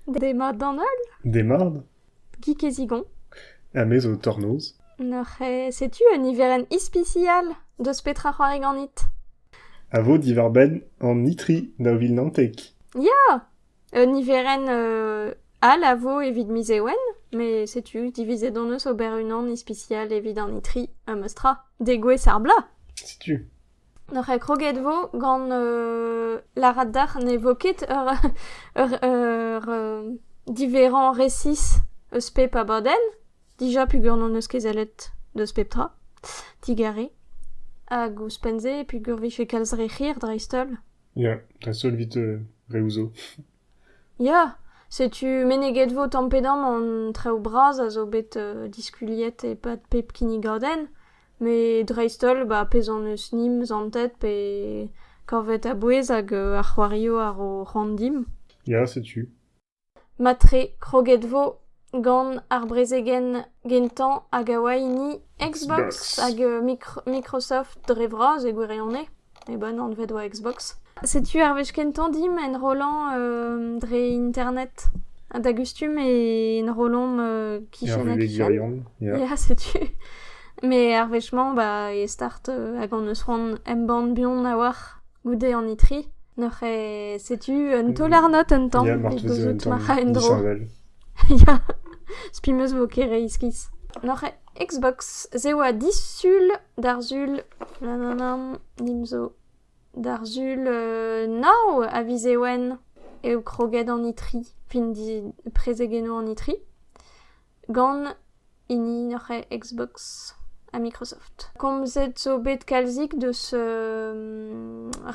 Demat d'an holl ? Demat. Guy Kezigon. Ha me zo Tornoz. Neuze, setu un niverenn ispisial deus petra c'hoari ganit. A vo diwar-benn an itri daou vil naontek. Ya! Un niverenn euh, all a vo evit miz Ewen, met setu divizet hon eus ober unan ispisial evit an itri, ha meus tra, degouezh ar bloaz. Setu. N'oc'h ket kroget 'vo gant lârat deoc'h ne vo ket ur ur diverrañ resis eus pep abadenn. Dija peogwir n'hon eus ket sellet deus pep tra, digarez. Hag ouzhpenn-se peogwir 'vije kalz re hir dreist-holl. Ya, dreist-holl 'vit reoù 'zo. Ya, setu meneget 'vo tamm-pe-damm an traoù bras a zo bet diskuliet e-pad pep kinnigadenn, met dreist-holl ba pezh hon eus nimp zantet pe kavet a-bouez hag ar c'hoarioù a ro c'hoant dimp. Ya, setu. Matre kroget 'vo gant ar brezegenn gentañ hag a oa hini Xbox hag Microsoft dre vras e gwirionez. E bon anvet oa Xbox. Setu ar wech kentañ dimp enrollañ euh, dre internet. Ha da gustum e enrollomp euh, kichen ha kichen. Ya, setu. Mais ar wech-mañ bah, e start euh, hag hon eus c'hoant embann buan a-walc'h goude an itri. Neuze setu un taol arnot un tamm evit gouzout ma ra en-dro. Ya, spi 'm eus vo ket re iskis. Neuze Xbox, se oa disul d'ar sul. Nim zo d'ar sul nav a vize wenn eo kroget an itri, fin prezegennoù an itri, gant hini neuze Xbox ha Microsoft. Komzet zo bet kalzik deus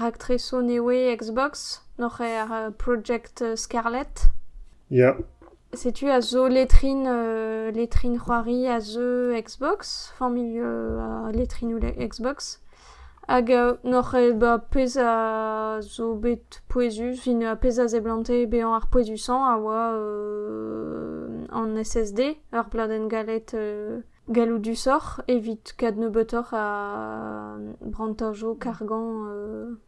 raktresoù newe Xbox, neuze ar Project Scarlet. Ya. Setu a zo letrin letrin c'hoari a zeu Xbox, familh ar letrinoù Xbox. Hag n'oc'h ket bet ar pezh a zo bet pouezus evit ar pezh a seblante bezañ ar pouezusañ a oa an SSD, ur pladenn galet galloudusoc'h evit kadnebeutoc'h a brantajo kargañ.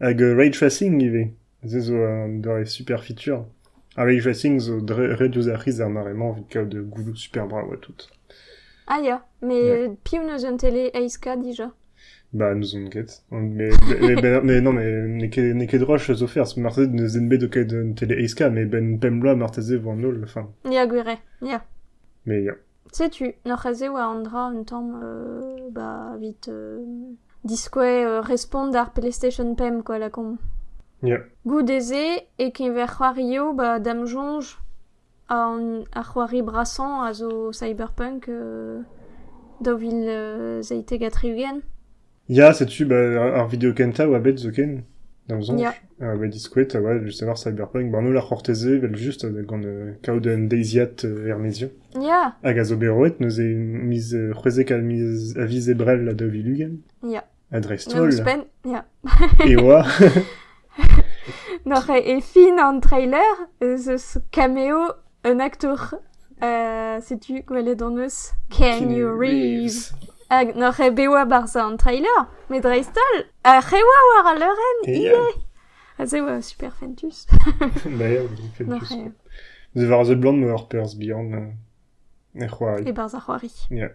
Hag ray tracing ivez, se zo un doare superfitur. Ha ray tracing zo dre ret diouzh ar c'hiz ar mare-mañ evit kaout gouloù super brav ha tout. Ah ya, mais Ouais. euh, piv n'eus un télé aeska déjà Bah, nous on ket. Mais, mais, ben- mais non, mais n'eo ket, n'eo ket droit zo faire, parce que marteze n'eus den bet o kaout un télé aeska, mais ben pemp bloaz marteze vo an holl, enfin. Ya gwir eo, ya. Mais ya. Setu, n'oc'h-eus eo an dra un tamm ba evit diskouez respont d'ar PlayStation pemp quoi lakaomp. Ya. Goude-se e keñver c'hoarioù ba da'm soñj an ar c'hoari brasañ a zo Cyberpunk daou vil seitek ha tri-ugent. Ya, setu bah, ar video kentañ a oa bet zoken, d'am soñj, Ya. a oa bet diskouet a oa just avoir Cyberpunk. Ba Nola Cortese, vel just, gant euh, kaout un deiziad euh, er-maezioù. Ya, Hag a zo bet roet, neuze miz euh, c'hwezek a miz a viz Ebrel da Vilugen. ya. A dreist-holl. Ouzhpenn, ya. E oa Noc'h eo e fin an treiler ez eus cameo un aktour. setu gwelet hon eus Keanu Reeves. Hag noc'h eo bet war barzh an treiler, met dreist-holl ar c'hewa war al leurenn ivez. Ha se oa super fentus. D'ailleurs, c'est Noc'h eo. War The Blonde, ur perzh bihan e c'hoari. E barzh ar c'hoari. Yeah.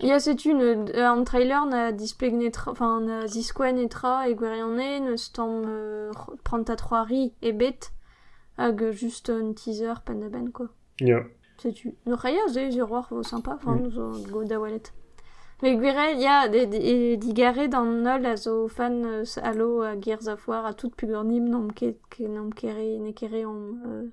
Ya setu an trailer na displeg netra, enfin na ziskouez netra e gwirionez, n'eus tamm prantad c'hoari ebet hag just un teaser penn-da-benn quoi. Ya. Setu, no c'hai aze hiroc'h 'vo sympa, enfin mm. zo go da welet. Met gwiriel ya, digarez d'an holl a zo fan eus Halo hag Gears of War ha tout peogwir n'omp ket, n'omp ket re, n'eo ket re omp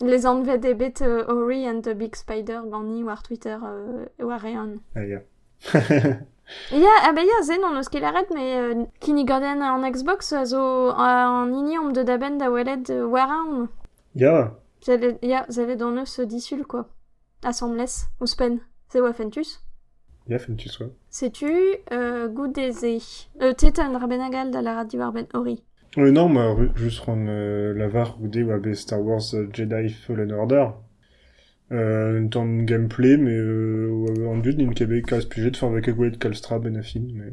Lesanvet eo bet Ori and the Big Spider ganin war Twitter war-eeun. Ah ya. Ya, ah bah ya, se n'hon eus ket lâret, mais euh, kinnigadenn an Xbox a zo an hini omp deuet a-benn da welet euh, war-eeun. Ya. Sellet, ya, sellet hon eus disul, quoi. asambles ouzhpenn se oa fentus Ya, fentus, ouais. setu euh, goude-se euh, tu sais, t'as un dra bennak all da lârat diwar-benn Ori Euh, non, moi, ru- juste rendre euh, la VAR goude oa bet Star Wars euh, Jedi Fallen Order. Euh, une tente de gameplay, mais euh, en but, in kebe kalz plus de fin avec Gwen Kalstra ben affin, mais...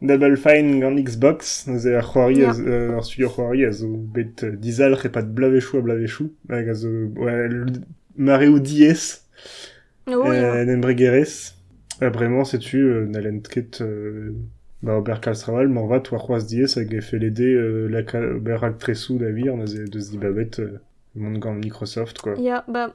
Double Fine gant Xbox, neuze ar c'hoari, yeah. a, ar studio c'hoari a zo bet dizalc'h e-pad bloavezhioù ha bloavezhioù, hag a zo ouais, mareoù diaes, oh, en embregerezh. Ha bremañ, setu, euh, n'hallent ket euh, ba ober kalz traoù all, morvat oa c'hoazh diaes hag e fe lede euh, la ober raktresoù da vir, neuze deus dibabet euh, mont gant Microsoft, quoi. Yeah, bah,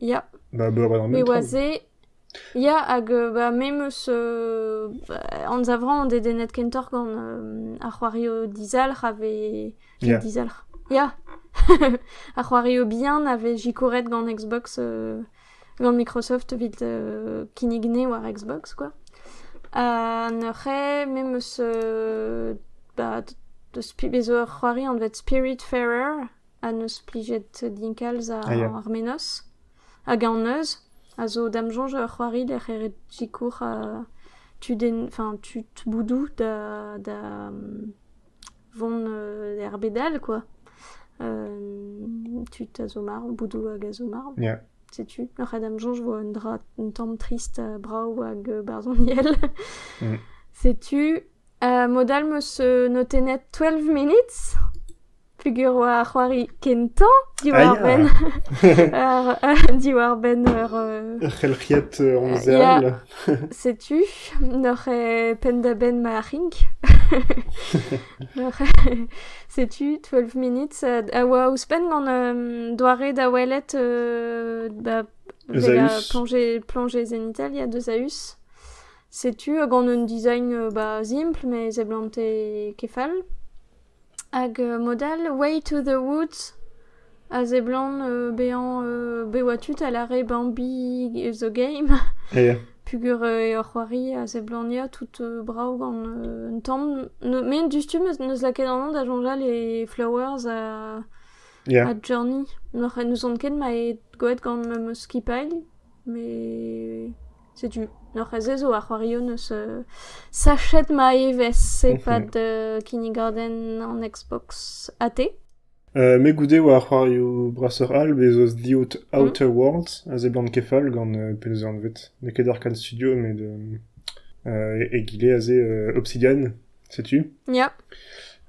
Ya. Ba meur a Met metro. oa se, ya, hag euh, bah, me 'm eus euh, anzavrañ on dedennet kentoc'h gant euh, ar c'hoario dizalc'h a vez... Ya. Dizalc'h. Ya. ar c'hoario bihan a vez sikouret gant Xbox, euh, gant Microsoft evit euh, kinnig ne war Xbox, quoi. Ha neuze, me 'm eus euh, bah, deus pi- bez zo ur c'hoari anvet Spiritfarer. a neus plijet din kalz ar menoz hag an neuz a zo da'm soñj ur c'hoari da c'herc'het sikour tud boudoù da vont er bed all quoi tud a zo marv boudoù hag a zo marv setu a ra da'm soñj vo un dra un tamm trist brav hag barzhoniel setu mod all 'meus notennet twelve minutes peogwir oa ar c'hoari kentañ diwar-benn diwar-benn ur Ur c'helc'hiad onzeal. Ya, setu n'oc'h eo penn-da-benn ma c'hink. N'oc'h eo- setu twelve minutes a a oa ouzhpenn gant um, doare da welet euh, ba bezañ Esaüs. planje planje zenital ya deus Aeus. Setu gant un design euh, ba simpl mais e seblante ket fall. Hag mod all Way to the Woods a seblant bezañ bet oa tud a lâre Bambi is a game ya peogwir ur c'hoari a seblant ya tout brav gant un tamm met diouzhtu 'neus lakaet an anv da soñjal e Flowers ha ya ha Journey n'ouzon ket ma eo gwelet gant ma skipailh met Setu, n'oc'h ket se zo ar c'hoarioù 'neus sachet ma evezh e-pad kinnigadenn an Xbox AT. Me goude 'oa ar c'hoarioù brasoc'h all, bez 'zo The Outer Worlds, a seblant ket fall gant penaos eo anvet. N'eo ket Arcade Studio met egile aze Obsidian. Setu. Ya.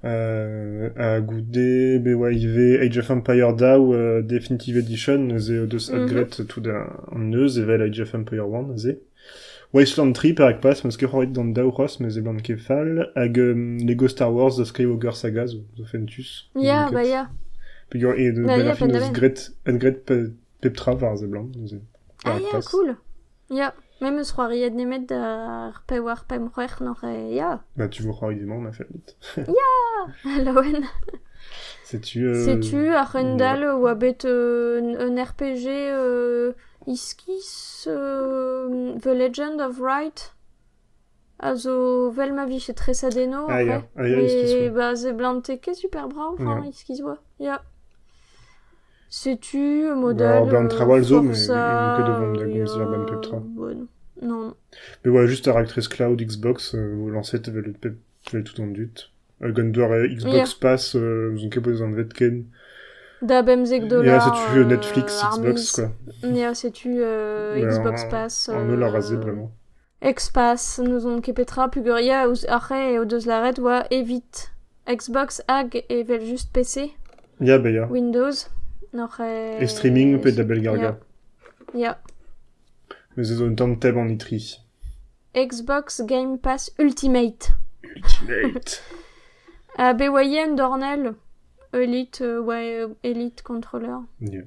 Euh, ha goude be oa ivez Age of Empire daou euh, Definitive Edition neuze deus mm adgret tout da an neuz evel Age of Empire 1 neuze. Wasteland 3 perak pas, m'eus ket c'hoaret d'an daou c'hos, mes eblant ket fall, hag um, Lego Star Wars da skreiñ Ogre Saga zo, zo fentus. Ya, bah ya. Peger e de ben a fin eus gret, et gret Pep tra war a seblant, neuze. Ah, ya, cool. Ya, même eus c'hoariet nemet ar pevar, pemp, c'hwec'h nor e... Ya, Bah, tu veux c'hoari dimant, on a fait vite. Laouen. Setu... euh, Setu ar c'hendal oa bet un, un RPG euh, iskis euh, The Legend of Right. a zo 'vel ma vije treset eno après met ba seblante ket super brav hañ iskis 'oa ya setu modèle Forza non me 'oa just ar aktres Cloud Xbox lañset evel tu as tout an dud hag an doare Xbox Pass n'ouzon ket bezañ anvet ken da bemzek dolar ya setu Netflix Xbox quoi ya setu Xbox Pass an holl a ra se bremañ Xpass n'ouzon ket petra peogwir ouzh ar re o deus lâret oa evit Xbox hag evel-just PC. Ya ba ya. Windows. Oc'h e... E streaming pe da bellgargañ. Ya. Me zo un tamm teb an itri. Xbox Game Pass Ultimate. Ultimate. Ha be oa yen dornell? Elite, euh, ouais, euh, Elite controller. Yeah.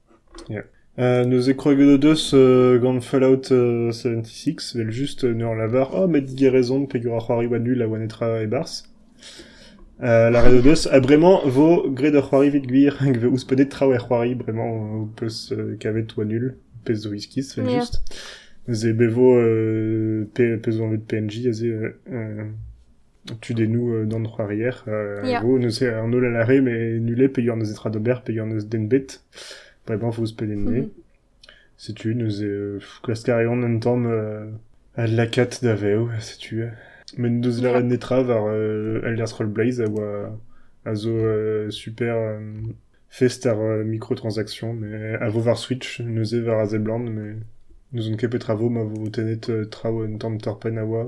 Neuze kroget o deus gant Fallout seventy six, evel-just en ur lavar oh met Guy a raison peger a c'hoari va nul a oa netra e-barzh. Lâret o deus ha bremañ 'vo graet ur c'hoari evit gwir hag 'vo ouzhpennet traoù er c'hoari bremañ ho peus kavet oa nul, pezh zo iskis evel-just. Neuze be 'vo pezh 'vo anvet PNJ aze tudennoù d'an c'hoarier. Ya. Vo neuze an holl a lâre mais nul eo pegeurt neus netra d'ober, pegeurt neus den bet. Bremañ 'vo pedenn-se. Setu neuze euh, klask a reont un tamm euh, al lakaat da vev, setu. Met n'eus lâret netra war euh, Elder Scrollblaze a oa a zo euh, super euh, fest ar euh, microtransactions, mais a vo war Switch, neuze war a seblant, mais n'ouzon ket petra vo ma vo tennet euh, traoù un tamm torpenn a oa.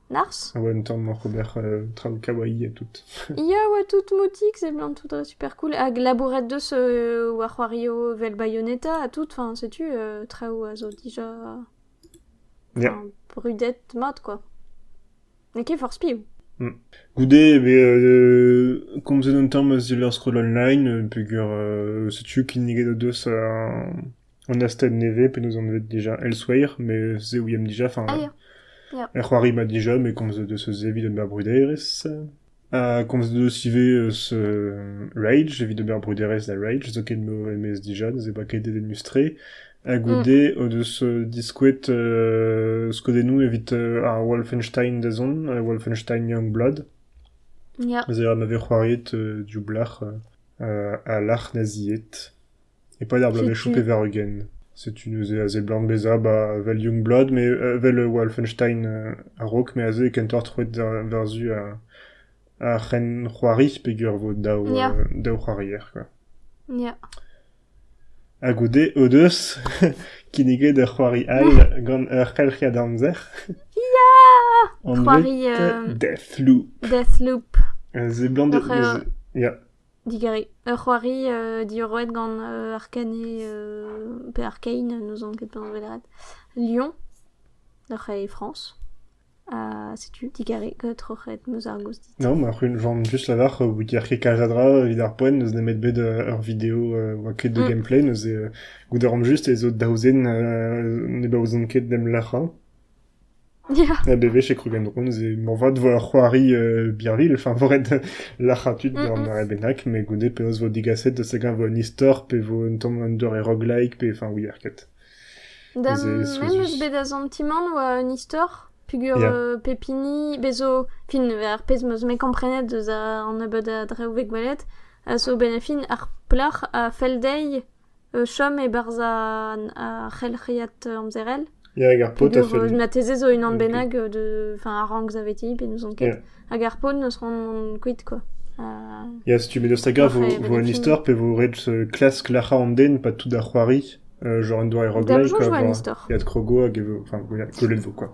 Nars? Ah ouais, un tamm oc'h ober euh, traoù kawaii ha tout. Ya oa tout moutik, seblantout dre super cool. Hag labourat deus euh, war c'hoario vel Bayonetta ha tout, enfin, setu, euh, traoù a zo dija Yeah. enfin, brudet mat, quoi. N'eo ket forzh piv. Goude, eh ben, euh, komzet un tamm a zil ar scroll online, euh, peger euh, setu kinniget o deus euh, an astenn nevez penaos anvet dija Elsewhere, me se ouiemp dija, enfin, er c'hoari-ma dija, me komz deus eus evit ober bruderezh, ha komz deus ivez eus euh, Rage, evit ober bruderezh da Rage, zo ket m'o emez dija, ne se boa ket dedenus-tre, ha goude o deus euh, diskouet euh, skodennoù evit euh, ar Wolfenstein da zont, euh, Wolfenstein Youngblood, Ya. Zeher ma vez c'hoariet euh, div blac'h euh, euh, ha lac'h naziet. E-pad ar bloavezhioù pevar-ugent. Setu neuze a seblant bezañ ba evel Youngblood me evel Wolfenstein a-raok me aze kentoc'h troet war-zu ar c'henc'hoari peger vo daou daou c'hoarier quoi. Ya. Ha goude o deus kinniget ur c'hoari all gant ur c'helc'hiad amzer. Ya! C'hoari Deathloop. Deathloop. A seblant... Ya. Digarez. Ur c'hoari diorroet gant Arkane pe Arkane, n'ouzon ket penaos lâret, Lyon, oc'h e Frañs. Ha setu, digarez, troc'het meus ar gaoz dit. No, ma c'hunvan just lavar Wiki Arcade Canadra evit ar poent n'eus nemet bet ur video oa ket de gameplay, neuze goude ran just ez eo daou zen ne baouzont ket d'em lac'hañ. Ya. Ha bewech e krogen drouz e moarvat vo ur c'hoari birvilh, enfin vo ret lârañ tud d'ur mare bennak, met goude penaos vo digaset eus hag-eñ vo un istor pe vo un tamm un doare roguelike pe enfin wir ket. Da memes bet da santimant oa un istor peogwir pep hini bez zo fin ar pezh m'eus me komprenet eus an nebeud a drev bet gwelet a zo benefin ar plac'h a fell dezhi chom e-barzh ar c'helc'hiad amzerel. Ya, hag ar paotr a fell din. Mateze zo unan bennak de... Enfin, ar rank zaveti, pe n'ouzon ket. Hag ar paotr n'eus c'hoant kuit, quoi. Ya, setu, met daoust hag-a vo un istor pe vo ret klask glac'hañ an den pa tout da c'hoari? Genre un doare roguelike, quoi. Ya, krogo hag e vo... Enfin, gwelet vo, quoi.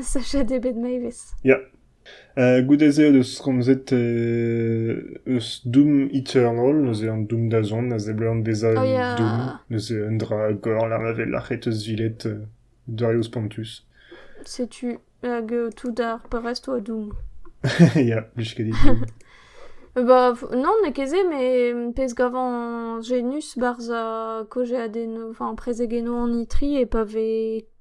Sachet eo bet Mavis. Ya. Uh, goude-se o deus komzet uh, eus Doom Eternal, neuze an Doom da zont, a seblant bezañ Oh un ya. Doom, neuze un dra gore lar ma vez lac'het eus viled uh, doareoù spontus. Setu hag eo tout ar parrest oa Doom. ya, plij ket dit. Ba, f- non, n'eo ket se, mais pezh gavan genus barzh ar kaozeadennoù, enfin prezegennoù an itri e pa vez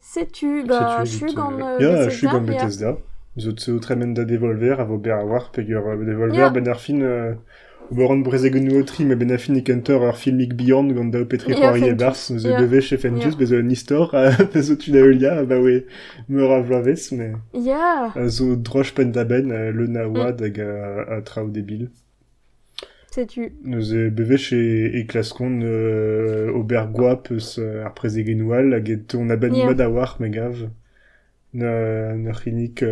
Setu ba achu gant Bethesda. Ya, achu gant Bethesda. Zo zo tremen da devolver a vo berr a-walc'h peger euh, devolver Ya. 'benn ar fin euh, ober hon brezegennoù aotri ma 'benn ar fin e kentoc'h ur filmig bihan gant daou petrichoari Ya, e-barzh zo Ya. devez chez Fentus, Ya. bezo un istor a zo tu da heuliañ abaoe meur a vloavezh met Ya. a zo droch penn-da-benn euh, leun a oad hag a, a traoù debil. Setu. Neuze bewech e klaskont ober goap eus ar prezegennoù all hag on a-benn mat a-walc'h me gav. N'eur c'hinnig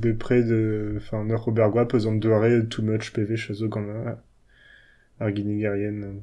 bepred, enfin n'eur ober goap eus an doare too much bewech a zo gant ar ginnigerien.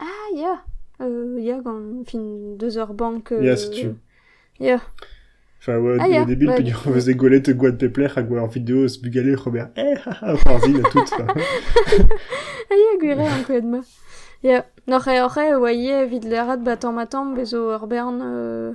Ah ya, euh, ya gant fin deus ur bank. euh, Ya, setu. Ya, Enfin, ouais, Ah, des, ya, des billes ouais. peogwir on faisait gwelet Gwen Pepler hag war ur vidéo se bugaler Robert. Eh, haha, Parville et tout. Enfin, ah ya gwir eo ankouaet ma. Ya, noc'h eo oc'h eo oa ivez evit lâret ba tamm ha tamm bezo ur bern euh,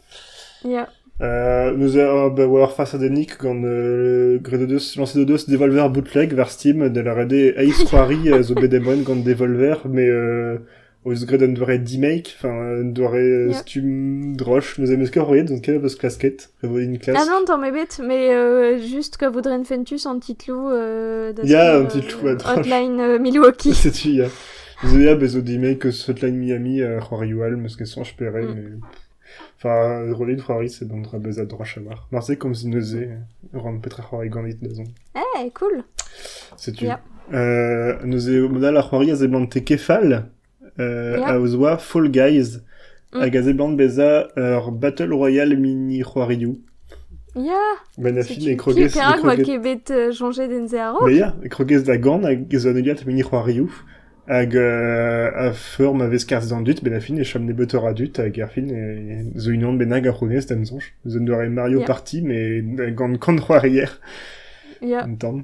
Ya. Euh, nous allons avoir face à des nicks gant euh, gré de Deus, lancé de Deus Devolver bootleg vers Steam de la redé Ace Quarry euh, zo bet emwen gant Devolver mais euh, oes graet un doare demake enfin un doare Yeah. stumm droch nous ameus ket roet donc kev eus klasket re vo din klask Ah non, t'en mets bête, mais euh, juste que voudrait une Fentus en titlou euh, de Yeah, son, un titlou, un tranche. hotline euh, Milwaukee. setu ya Zeab a zo dimek eus Hotline Miami ha c'hoarioù all, m'eus ket soñj pere, mais... Enfin, rollit c'hoari c'est un dra bezañ droch a mar. Marse komz neuze ran petra c'hoari ganit da zont. Eh, cool! Setu. Ya. Euh, neuze, mod all ar c'hoari a zeblante kefal, euh, Ya. a ozoa Fall Guys, hag a zeblant bezañ ur Battle Royale mini c'hoarioù. Ya, Menafin e setu krogez... qui perak e oa krogez- ket bet euh, chañjet en se a-raok. Mais ya, e krogez da gan hag ez oa neuiat mini c'hoarioù. Hag euh, a feur ma vez karzh d'an dud, Benafin e chom nebeutoc'h a dud, hag erfin e zo unan bennak a c'hounez d'am soñj. Zo un doare Mario Yeah. Party, mais gant kant c'hoarier, Ya, un tamm.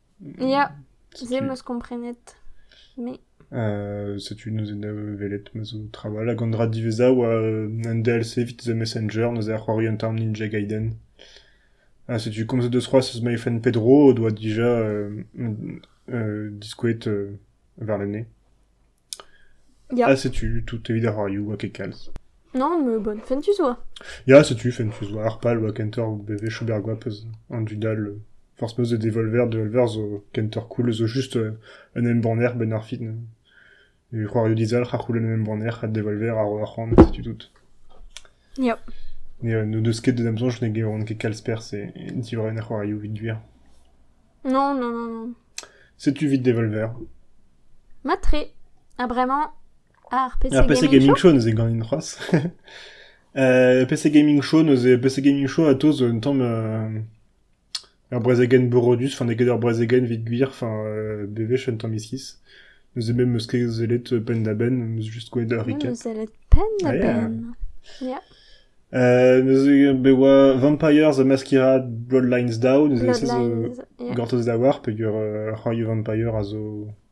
Ya, se 'meus komprenet, me. setu neuze da welet ma zo trawalc'h hag an dra diweza a oa an DLC evit The Messenger, neuze a c'hoari un tamm Ninja Gaiden. Ha setu komzet deus c'hoazh eus my friend Pedro o doa dija diskouezet warlene. Ya. Ha setu tout evit ar radio oa ket kalz. Non, mais bonne fin tu sois. Ya, setu, fen tu zoa ar pal oa kenter BV Chaubergoap eus an dudal euh, forz meus de Devolver, Devolver zo kenter cool zo just euh, un embanner ben ar fin. E c'hoario dizalc'h a c'houlen un embanner ha Devolver a ro ar c'hoant, setu tout. N'o deus ket d'am soñj ne gavan ket kalz perzh diwar an c'hoarioù evit gwir. Non, non, non, non. Setu evit Devolver. Mat-tre. Ha bremañ, ar PC, Ar PC Gaming Show neuze ganin c'hoazh. PC Gaming Show neuze PC Gaming Show a-taos un tamm... Ur brezegenn borodus, fin eget ur brezegenn evit gwir, fin bewech un tamm iskis. Neuze me 'm eus ket sellet penn-da-benn, 'm eus just gwelet ur Ah, riquet. sellet penn-da-benn. Ya. Euh, neuze be oa Vampires a maskira Bloodlines Down, neuze se zo Bloodlines, yeah. gortoz da war, peogwir euh, ar c'hoarioù vampire a zo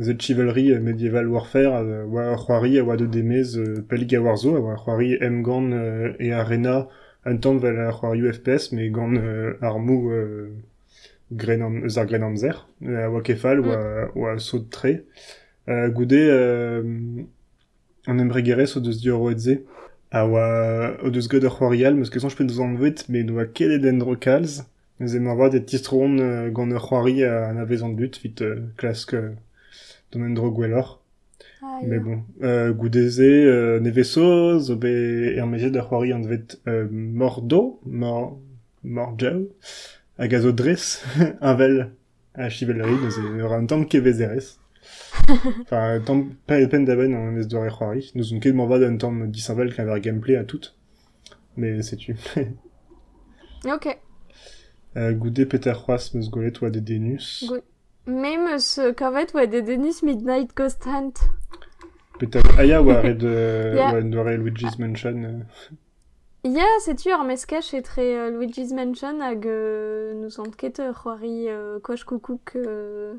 Z-chivalry medieval warfare a oa ur c'hoari a oa deuet e-maez pell gaouar zo, a oa ur c'hoari emgann e arena un tanval a c'hoarioù FPS met gant armoù eus ar Grennamzer a oa ket fall, oa sot-tre. Goude an embregerezh o deus diorroet-se a oa o deus graet ur c'hoari all, 'm eus ket soñj p'en deus anvet met ne oa ket en endro kalz. Neuze moarvat e tistroont gant ur c'hoari a anavezont but evit klask dont en-dro gwelloc'h. Met bon, goude-se nevez-saoz zo bet ermaezet ur c'hoari anvet Mordo, Morjo, hag a zo dres heñvel ha chivellerie, neuze ne ra un tamm kevezerezh. Enfin un tamm penn-da-benn an evezh doare c'hoari. N'ouzon ket moarvat un tamm disheñvel keñver gameplay ha tout. Mais setu. Ok. Euh, goude petra c'hoazh 'm eus gwelet oa dedennus. Me 'm eus kavet oa dedennus Midnight Ghost Hunt. Petra... Ah ya, oa ret euh, yeah. oa un doare Luigi's Mansion. Euh. Ya, setu ur meskaj etre euh, Luigi's Mansion hag euh, n'ouzont ket ur c'hoari euh, Koch Koukouk euh,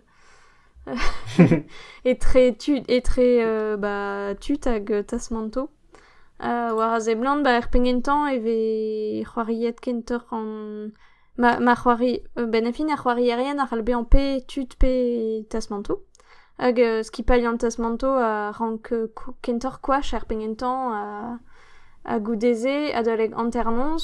etre, tu, etre euh, bah, tut hag Tasmanto. war a seblant ba er penn kentañ e vez c'hoariet kentoc'h an ma ma c'hoari bennafi ar c'hoarierien a c'hall bezañ pe tud pe tasmantoù hag skipailh an tasmantoù a rank kentoc'h koach er penn kentañ ha goude-se adalek hanternoz.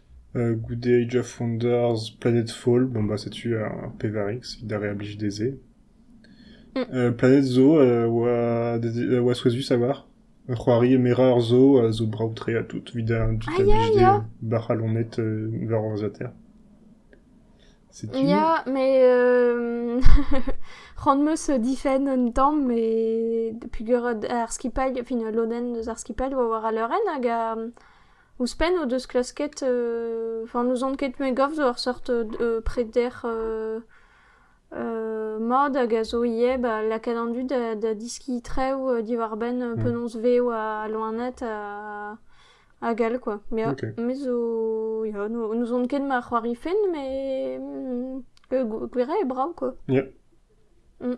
Goude Age of Wonders, Planetfall, bon bah setu ar pevar X evit ar re a blij dezhe. Planète zo a oa dezi- a oa souezhus a oar. C'hoari Mera zo a zo brav-tre ha tout evit ar dud a Aïe, blij aïe. dezhe bac'h a lonet euh, war ordinateur. Setu. Ya, mais euh, ran-meus difenn un tamm, mais peogwir ar skipailh, fin, lodenn eus ar skipailh oa war al leurenn hag a, Ouzhpenn o deus klasket, enfin n'ouzon ket me gav zo ur seurt preder mat hag a zo ivez ba lakaat an dud da da deskiñ traoù diwar-benn penaos vev al loened ha hag all quoi. Me Ok. me zo ya n'ouzon ket ma c'hoari fin mais gwir eo brav quoi. Ia. Mm.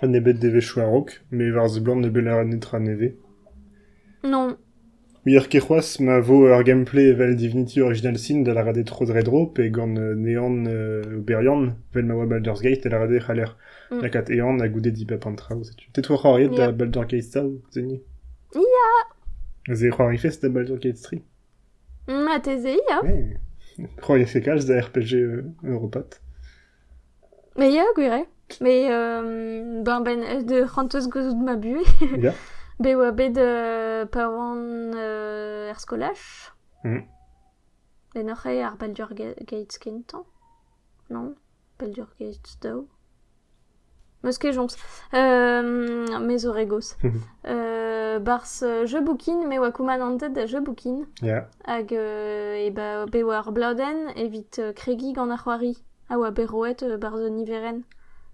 Ha n'eo bet devezhioù a-raok, met e varzh-blant ne beller netra nevez ? Non. Ouier ket c'hoazh ma vo ur gameplay evel Divinity Original Sin da lâret eo tro-dre-dro pe gant Neon oberiant vel ma oa Baldur's Gate da lâret eo c'haller lakaat Ehan ha goude dibab an traoù. Setu te 'to c'hoariet da Baldur's Gate tav, seniñ ? Ya. Ze eo c'hoarifez da Baldur's Gate 3 ? Marteze ya. C'hoariez ket kalz da RPG europat. Mais ya, gwir eo. Mais euh, ben, ben aes da c'hortoz gouzout ma buhez. Ya. Bet oa bet euh, pa oan euh, er skolaj. Mhm. Ben oc'h eo ar Baldur Ga- Gates kentañ, non? Baldur Gates daou. Meus ket joñs. me zo re gozh. Barzh jeu boukin, me oa koumanantet da jeu boukin. Hag e ba bet war blodenn evit kregiñ gant ar c'hoari a oa bet roet barzh un niverenn.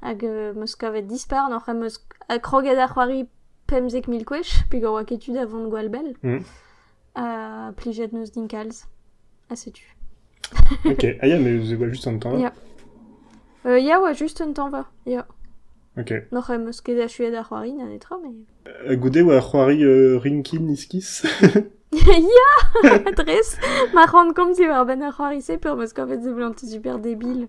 Hag meus kavet dispar n'oc'h em eus kroget da c'hoari pemzek mil gwech pegoa oa ket tu da vont gwall bell. Ha plijet 'neus din kalz. Ha setu. Ok, ah ya, mais voilà juste un temps. Ya. Euh, ya, ouais, juste un tañva, ya. Ok. N'oc'h em eus ket achuet ar c'hoari na netra, mais... Euh, goude oa c'hoari euh, Rinkin Iskis. ya! Dres, ma ran komz diwar-benn ar c'hoari-se, peur'm eus kavet seblantout super debil.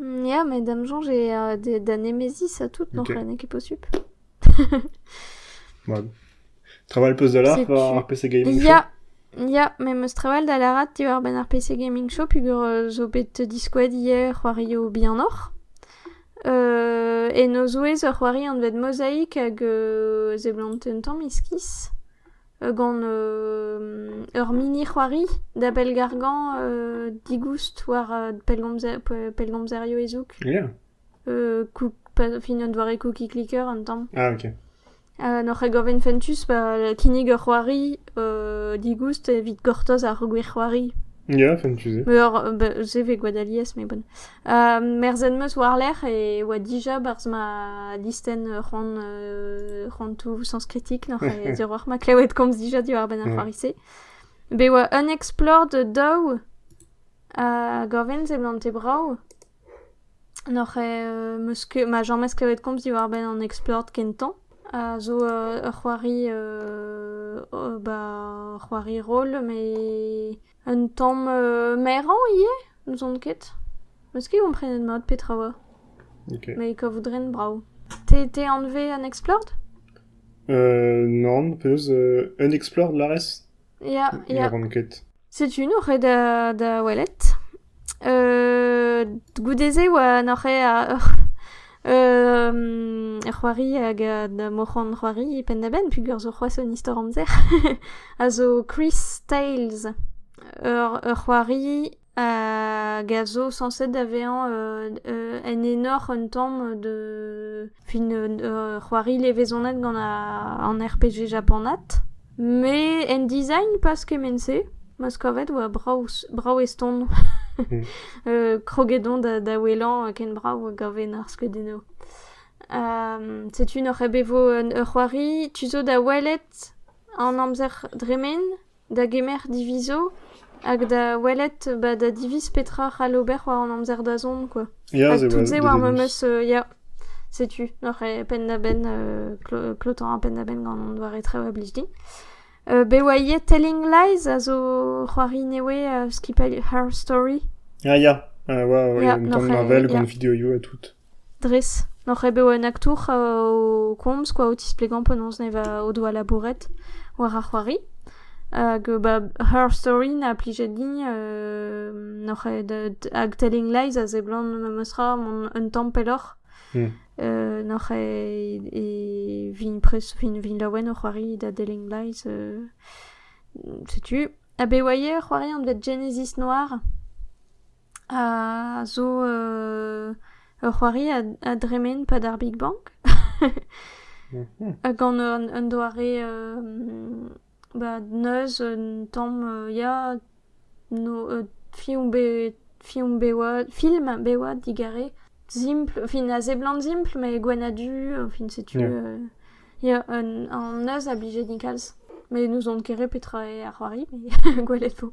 Ya, met da'm soñj eo da nemeziñ ça tout, non? Ok. N'eo ket posupl. Mad. Travall 'peus da lar Setu. war ar PC Gaming Show? Ya, ya, met 'm eus trawal da lârat diwar-benn ar PC Gaming Show peogwir euh, zo bet diskoet hier c'hoarioù bihanoc'h. Euh, en o zouez ur c'hoari anvet Mozaïk hag euh, a seblant un tamm iskis. gant ur mini-c'hoari da bellgargañ digoust war pellgomzerioù ezhoug. Yeah. fin un doare cookie clicker un tamm. Ah ok. An oc'hregovenn fentus pa kinnig ur c'hoari digoust evit gortoz ar gwir c'hoari. Yeah, fentus. Ur, se vez gwad alies, mais bon. Merzhet 'm eus war-lerc'h e oa dija 'barzh ma listenn c'hoant c'hoantoù sañskritik nac'h e ziorroac'h ma klevet komz dija diwar-benn ar c'hoari-se. Bet e oa un explore da daou hag ur wezh seblante brav. Nac'h eo 'meus ket- ma james klevet komz diwar-benn an explore kentañ a zo ur c'hoari ba ur c'hoari roll met Un tamm merañ ivez ? N'ouzon ket. Meus ket komprenet mat petra 'oa. Ok. Met kavout ren brav. Te anvet an Explored ? Nann, penaos un Explored, lârez ? Ya, ya. Ne ran ket. Setu int o ret da welet. goude-se e oa nac'hañ ur c'hoari hag moc'han c'hoari penn-da-benn peogwir zo c'hoazh un istor amzer a zo Chris Tales, ur c'hoari hag a zo sañset da vezañ en enor un tamm d'un c'hoari levezonat gant an RPG japanat. Me en design pas kement-se, ma 'z kavet oa brav brav eston kroget on da da ouelañ ken brav a gaven ar skeudennoù. setu n'oc'h ket bet 'vo ur c'hoari tu zo da welet an amzer dremen da gemer divizo. Hag da welet ba da diviz petra c'hall ober war an amzer-dazont quoi. Ya, Hag c'est tout vrai, se des war devis. memes euh, ya, setu oc'h e penn-da-benn euh, clo- klotañ ar penn-da-benn gant an doare traoù a blij din. Euh, be oa ivez Telling Lies a zo c'hoari newe euh, skipailh Her Story. Ah ya, ah ouais, ouais, il y a Yeah, une grande noch, euh, Marvel, yeah. grande vidéo et tout. Dres, n'oc'h ket bet un aktour o komz kwa o tisplegañ penaos ne va o doa labouret war ar c'hoari hag ba Her Story 'na plijet din n'oc'h ket hag Telling Lies a seblant memes tra mont un tamm pelloc'h n'oc'h ket e vin prest vin vin laouen o c'hoari da Telling Lies setu. Ha be oa ivez ar c'hoari anvet Genesis Noir? a zo ur c'hoari a dremen 'pad ar Big Bang gant un doare ba neuz un tamm ya film bet film bewad film bewad digare simpl fin a seblant simpl met gwenn-ha-du fin setu ya an neuz a blije din kalz met n'ouzon ket re petra eo ar c'hoari met gwelet 'vo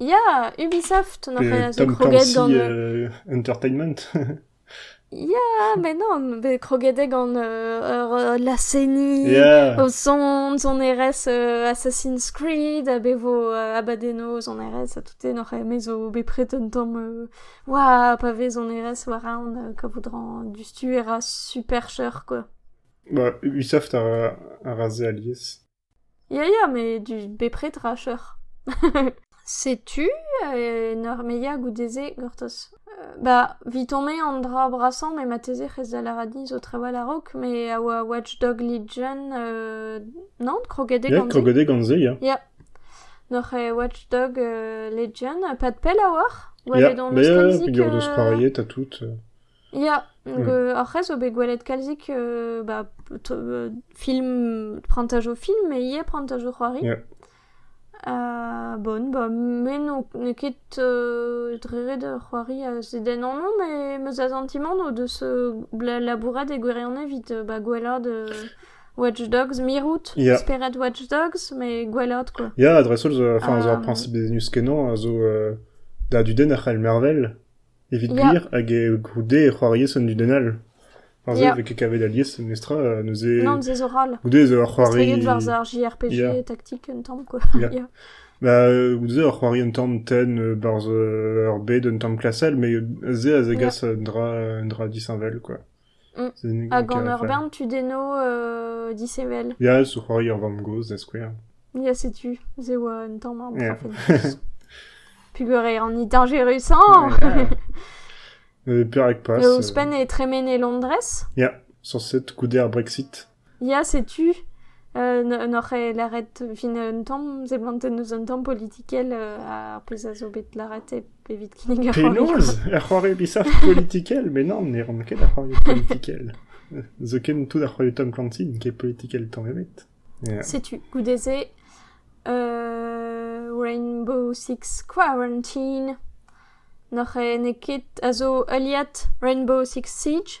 Ya, Ubisoft, on a Pe a zo Tom kroget Clancy gant... euh, Entertainment. Ya, mais non, mais croguet gant euh, euh, la CENI, Yeah. aux Sons, on erez euh, Assassin's Creed, a bevo euh, Abadenos, on erez, a toute noc'h emezo, bepred un tamm, euh, ouah, pa vez on erez war aon, euh, kavoudran, du stu era super cher, quoi. Bah, Ubisoft a, a rasé alias. Ya ya met bepred ra cheuc'h. Setu en ur meilhañ goude-se gortoz. Ba vit-on-me an dra brasañ met marteze c'hest da lâret din zo trawal a-raok met a oa Watch Dog Legion non kroget eo gant se? Ya kroget eo gant se ya. Ya noc'h eo Watch Dog Legion pad pell a-walc'h. Ya, ya, ya, gwerdoz c'hoariet ha tout. Ya, hag hor c'has zo bet gwelet kalzik ba film, prantajoù film met ivez prantajoù c'hoari. Bon ba me n'on ket drevet c'hoari a zedennaño met ma asantimant o deus labourat e gwirionez evit ba gwelaat Watch Dogs, mirout, spered Watch Dogs met gwelaat quoi. Ya, dreist-holl, enfin, zo ar priñsip n'eus ket non a zo da dudenn a c'hell mervel. Evit gwir, hag goude e c'hoar alies an dudenn all. Ar se a vez ket kavet alies, mestra, neuze... Non, se zo ral. Goude ez eo ar c'hoari... Estreget war ar JRPG yeah. taktik un tamm, quoi. Yeah. yeah. Ba, goude ur c'hoari un tamm tenn barzh ur bed un tamm klasel, mais se a zegas yeah. un dra, un dra disheñvel, quoi. Hag en ur bern tudennoù disheñvel. Ya, zo c'hoari ur vamm-gozh, da skouer. Ya, setu, se oa un tamm ar profentus. Puguret an dañjerusañ! Perak pas? Ouzhpenn e tremen e Londrez? Ya, sañset goude ar Brexit. Ya, setu. Euh, n'oc'h ket lâret fin un tamm seblantet eus un tamm politikel euh, ar pezh a zo bet lâret evit kinnig ur c'hoari. Penaos? Ur c'hoari bisac'h politikel? Mais non, ne ran ket ar c'hoari politikel. Zoken tout ar c'hoari Tom Clancy n'eo ket politikel tamm ebet. Yeah. Setu, goude-se, euh, Rainbow Six Quarantine. N'oc'h n'eo ket a zo heuliad Rainbow Six Siege.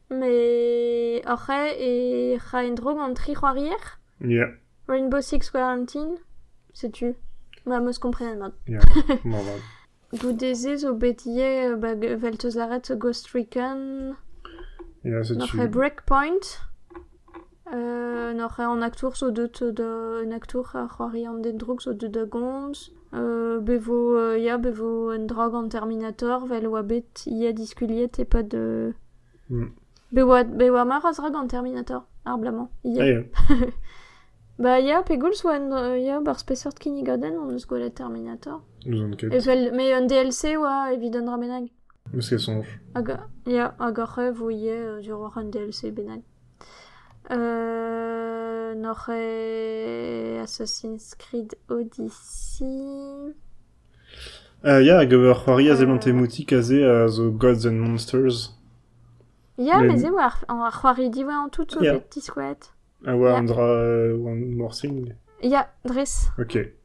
Met hoc'h ae e ra en-dro gant tri c'hoarier? Ya. Rainbow Six Quarantine? Setu. Ma 'm eus komprenet mat. Ya, moarvat. Goude-se zo bet ivez ba vel 'teus lâret Ghost Recon, Ia, setu... Nac'h eo Breakpoint? N'oc'h ket an aktour zo deuet da... un aktour a c'hoari an den drouk zo deuet da gomz. Bevo ya be vo un dra gant Terminator 'vel 'oa bet ivez diskuliet e-pad be oa be oa meur a zra gant Terminator ar bloaz-mañ ivez. Ba ya pegoulz 'oa un ya barzh peseurt kinnigadenn hon eus gwelet Terminator? N'ouzon ket. Evel met un DLC 'oa evit un dra bennak. N'eus ket soñj. Hag ya hag hoc'h eus vo ivez duroc'h un DLC bennak? N'oc'h ket Assassin's Creed Odyssey? Ya, hag ur c'hoari a-seblant emoutik aze a zo Gods and Monsters. Ya, met se 'oa ar c'hoari diwezhañ tout zo bet diskouezet. A oa un dra... one more thing? Ya, dres. Ok.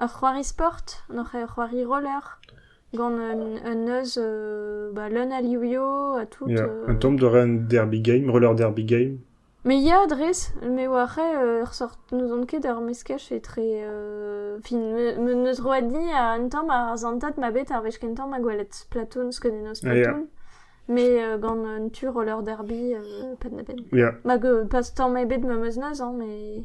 Ur c'hoari sport, oc'h ur c'hoari roller, gant un neuz ba leun a livioù ha tout. Ya, un tamm da ren derby game, roller derby game. Me ya dres, me oar re ur sort n'ouzon ket ur meskaj etre fin neus roet din ha un tamm ar zantat ma bet ar wech kentañ ma gwelet Splatoon skeudennoù Splatoon. Me gant un tu roller derby penn-da-benn. Ya. Mag pas tamm ebet ma 'm eus neuz, hein, mais...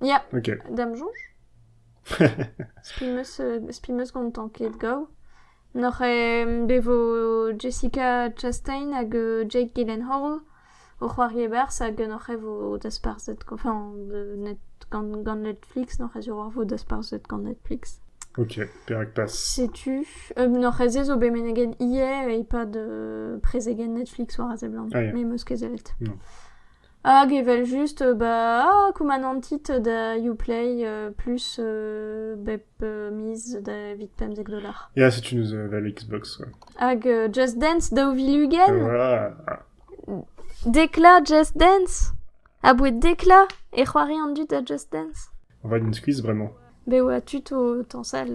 Ya, Ok. d'am soñj. Spi 'm eus, euh, spi 'm eus gantañ ket gaou. N'oc'h em bevo Jessica Chastain hag euh, Jake Gyllenhaal o c'hoari e-barzh hag n'oc'h e vo dasparzhet, enfin, euh, net, gant, gant Netflix n'oc'h ez eo ar vo dasparzhet gant Netflix. Ok, perak pas? Setu, euh, n'oc'h ez ezo bet meneget ivez e-pad euh, prezegen Netflix war a seblant, Ah, ya. me 'm eus ket sellet. Non. Hag evel-just ba koumanantit da Yoplait plus bep miz da evit pemzek dolar. Ya, setu neuze la Xbox, ouais. Hag Just Dance daou vil ugent, Voilà. Dekla Just Dance! A boued Dekla e c'hoari an dud da Just Dance. On va din skuizh bremañ. Bet oa tud o tañsal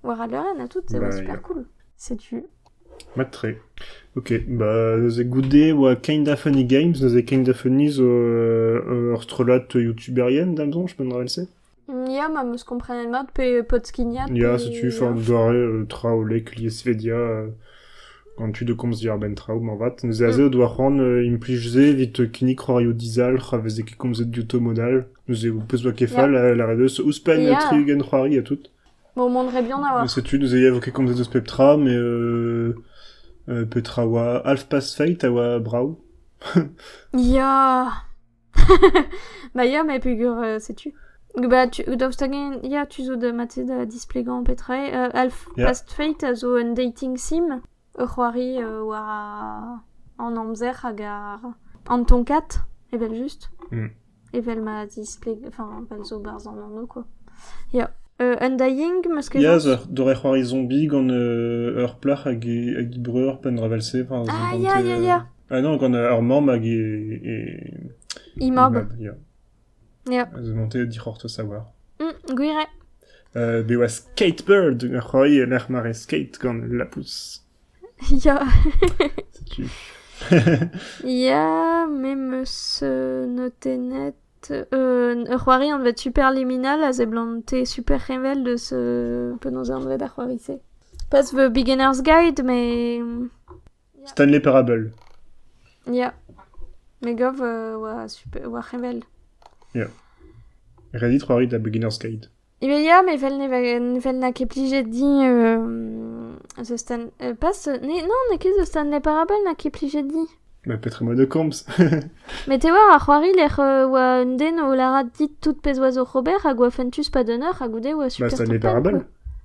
war al leurenn ha tout, e oa super cool. Setu. Mat-tre. Ok, ba neuze goude oa Kinda Funny Games, neuze Kinda Funny zo ur strollad youtuberien, da'm soñj, penn vel-se? Ya, ma 'm eus komprenet mat pe podskignat. Ya, setu forn doare traoù lek lies vedia gant tud o komz diàr-benn traoù moarvat. Neuze aze o doa c'hoant implij se evit kinnig c'hoarioù dizalc'h a veze ket komzet diouto mod all. Neuze, ho pez 'oa ket fall, a lâret eus, ouzhpenn Ya. tri-ugent c'hoari ha tout. Bon, on monterait bien avoir. Setu, neuze, ya, 'vo ket komzet eus pep tra, mais euh, euh, petra a oa Half-Past Fate a oa brav. Ya. bah ya, mais pegur euh, setu. Bah, tu, daoust hag-en, ya, tu zo da matzed da displegañ petra eo. Euh, Half-Past Fate a zo un dating sim. ur c'hoari war an amzer hag an tonkad evel-just. Evel ma zispleg... Enfin, fel zo 'barzh an anv quoi. Ya. Undying, 'meus ket... Ya, doare c'hoari zombie gant ur plac'h hag he breur penndrap evel-se. Ah, ya, ya, ya! Ah non, gant ur mamm hag he... He mab. Ya. Zo monté dic'hortoz a-walc'h. Mm, gwir eo. Euh, be oa skateboard roi e lec'h mare skate gant lapous. Ya. Setu. Ya, me meus euh, notennet... Euh, ur c'hoari anvet Super Liminal a seblante super revel deus euh, penaos anvet ar c'hoari-se. Pas the Beginner's Guide, mais... Stanley Parable. Ya. Me gav euh, war, super, war c'hevel. Ya. Reddit c'hoarit da Beginner's Guide. Evel ya, mais vel ne, va- vel n'a ket plijet din euh, The Stan... euh, pas ce... ne- Non, n'a ket The Stanley Parable n'a ket plijet dit. Bah, peut-être un mode de comps. Mais te war ar c'hoari lec'h euh, oa un den o larat dit tout pez oa zo Robert hag oa fentus pa dunner hag goude oa bah, super Stanley Parable. quoi.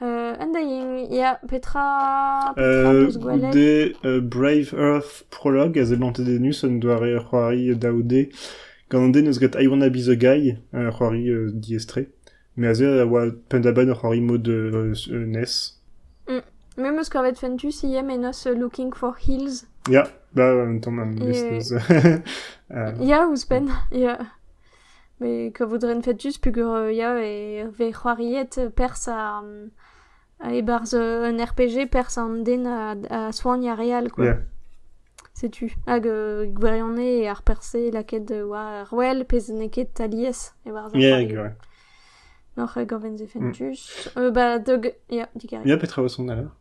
An dying, ya, petra, petra 'peus gwelet? goude euh, Brave Earth Prologue a zebantet Enus un doare ur c'hoari daou D gant an den eus get I Wanna Be The Guy, ur c'hoari euh, diaestre. Me aze a oa penn-da-benn ur c'hoari mod euh, euh, NES. Mm. Me 'm eus kavet Fentus ivez, mais nos Looking for Hills. Ya, bah, un tamm an Et- list eus... euh, Ya, ouzhpenn, ya. Met kavout a ren fetuz peogwir ya e vez c'hoariet perzh e-barzh un RPG perzh an den a soagn ar re all quoi. Ya. Setu hag gwirionez eo ar perzh-se lakaet war wel pezh n'eo ket alies e-barzh ar Ya c'hoari. gwir. Oc'h gaoven se fentuz. Ba dog ya, digarez. Ya petra 'vo son alors?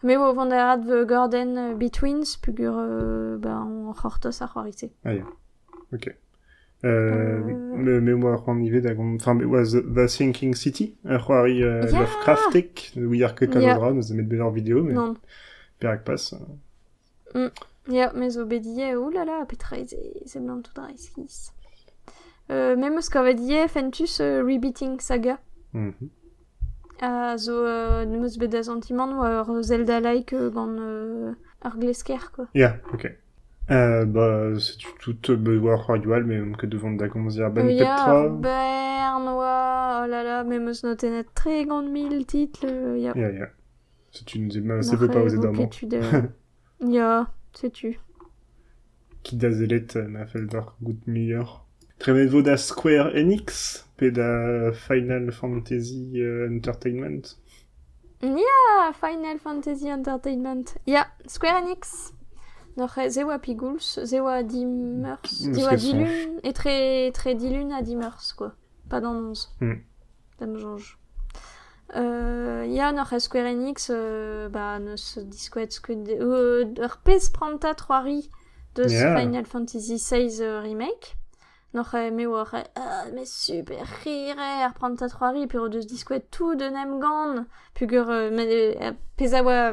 Me vo o vont da adgordenn Betweens peogwir ba on c'hortoz ar c'hoari-se. Ah ya, ok. Euh, me, me oa c'hoant ivez da gont... Enfin, me was The Thinking City, ur c'hoari euh, Yeah! Lovecraftic, we are ket kalz a Yeah. dra, neus nemet bezañ ur video, mais Non. perak pas. Ya, me zo bet ivez, oulala, petra eo se? Seblant tout reizhiz. Euh, me 'meus kavet ivez fentus euh, Rebooting Saga. Mhm. A zo... euh, 'meus bet da santimant oa ur Zelda-like euh, gant euh, ar glesker, quoi. Ya, ok. Euh, bah, setu tout euh, bah, war radio all, mais on ket devant da gomzer ben pep tra. Ya, Bern oa, oh là là, me 'meus notennet tre gant mil titl, euh, ya. Ya, ya. Setu, ma sepe pa ouzet amañ. Ket tud... Ya, setu. Ket da sellet na fell deoc'h goût muioc'h. Prenet vo da Square Enix pe da Final Fantasy euh, Entertainment Ya, Final Fantasy Entertainment. Ya, Square Enix. Noc'h ez eo a pigoulz, ez eo a di meurs, ez eo a dilun, etre, etre dilun a di meurs, quoi. Pas d'an onze. Hmm. Ça me change. Ya, n'oc'h ket Square Enix, ba n'eus diskouez skeudenn... ur pezh prantad c'hoari deus Yeah. Final Fantasy XVI remake. N'oc'h me oc'h ah, mais super rire ar prantad c'hoari, pe o deus diskouez tout d'un emgann, pugur euh, ma- euh, pezh a oa...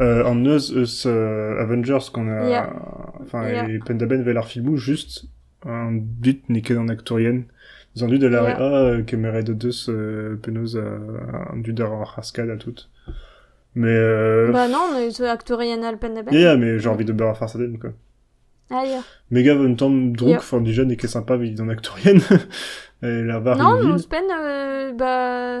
an neuz eus Avengers qu'on a enfin e penn-da-benn 'vel ar filmoù just an dud n'eo ket an aktourien des an dud a lâre ah kemeret o deus penaos an dud ar c'haskad ha tout mais bah non neus aktourien all penn-da-benn ya mais j'ai envie d'ober farce à den quoi ah ya mais gave un temps drouk enfin déjà n'eo ket sympa 'vit an aktourien et la war une ville non ouzhpenn bah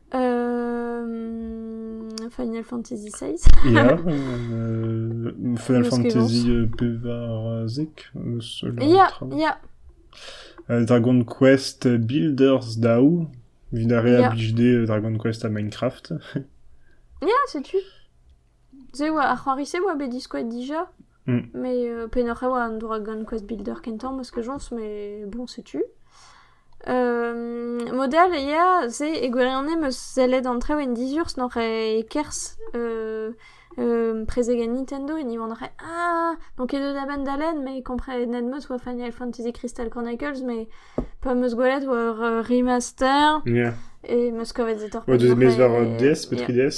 Final Fantasy XVI. Ya, euh, Final Fantasy euh, bevarazek, euh, cela Ya, ya, Euh, Dragon Quest Builders Dao, Villarreal ya, beach day, euh, Dragon Quest à Minecraft. ya, sais-tu? Se 'oa ar c'hoari-se 'oa bet diskouezet dija, mais pennoc'h e oa an doa gant Quest Builder kentañ ma skejons mais bon setu. Mod all ya, se e gwirionez 'meus sellet an traoù en dizurs n'oc'h-eo kerzh prezegenn Nintendo e Nivon n'oc'h-eo ah n'on ket deuet a-benn da lenn mais komprenet 'meus 'oa Final Fantasy Crystal Chronicles mais pa 'meus gwelet 'oa ur remaster... ya... et 'meus kavet se torped n'oc'h-eo... 'oa deus mezh war DS pe 3DS?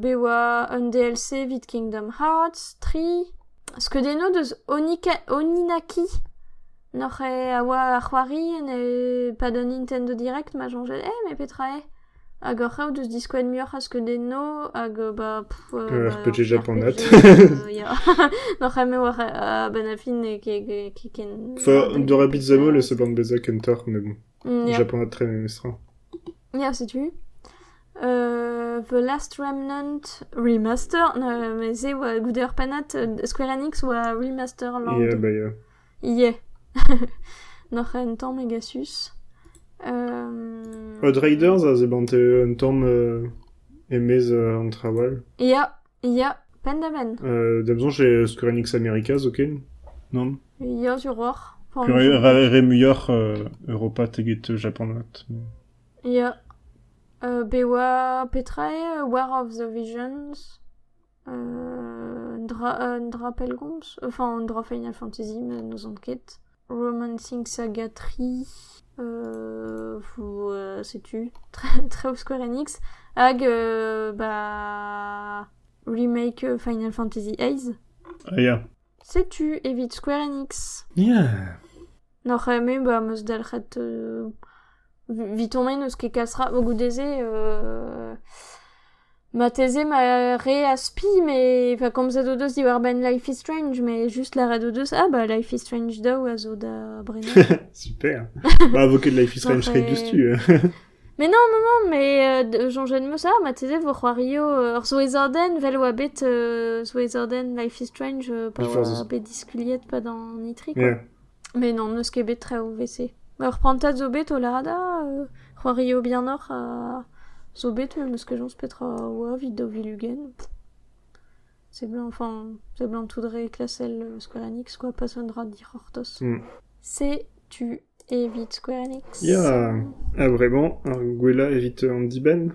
be oa un DLC evit Kingdom Hearts tri. Skeudennoù deus Oninaki. N'oc'h a oa ar c'hoari en e pad an Nintendo Direct ma soñjel eh mais petra eo? Hag oc'h eo deus diskouezet muioc'h a skeudennoù hag ba pff RPG japanat. Ya, n'oc'h eo war a-benn ar fin n'eo ket ken... Enfin, dorañ beat'em all e seblant bezañ kentoc'h, mais bon, japanat très memestra. Ya, setu. Uh, the Last Remnant remaster. Uh, mais eo uh, goude ur pennad uh, Square Enix oa remasterland. Yeah, bah yeah. Yeah. Noc'h un tamm egasus. Um... Hot Raiders a zebante un tamm uh, emez uh, an trawal. Ya, yeah. Ya, penn-da-benn. Euh, D'am soñj eo Square Enix Americas, ok? Non? Ya, sur hoc'h. Pour Pure- un- Re, re muioc'h euh, Europa teget Japan. at. Ya. Euh, be oa petra eo euh, War of the Visions? Euh, un, dra, un drapelgomz? Enfin, un dra Final Fantasy, me n'ouzon ket. Roman Sing Saga tri, setu traoù Square Enix, hag ba remake Final Fantasy XIII. Ya. Setu evit Square Enix. Ya. N'oc'h me ba 'm eus dalc'het Evitomp eo n'eus ket kas ra vo goude-se marteze ma re az-spi met pa komzet o deus diwar-benn Life is Strange met just lâret o deus ah bah Life is Strange daou a zo da Brenañ. Super! Bah vo ket Life is Strange re diouzhtu. Mais non, non, non, mais euh, soñjen 'm eus ah marteze vo c'hoario euh, ur souezhordenn vel oa bet euh, souezhordenn Life is Strange euh, pa Before oa the- bet diskuliet pa dan Itri quoi. Yeah. Mais non, n'eus ket bet traoù 'vese. Ur prantad zo bet o lâret ah c'hoario bihanoc'h ha zo bet n'eus ket chañs petra oa evit daou vil ugent. Seblant, enfin, seblant tout re klasel Square Enix quoi, pas un dra dic'hortoz. Setu evit Square Enix. Ya, a-vremañ, ar gwellañ evit an dibenn.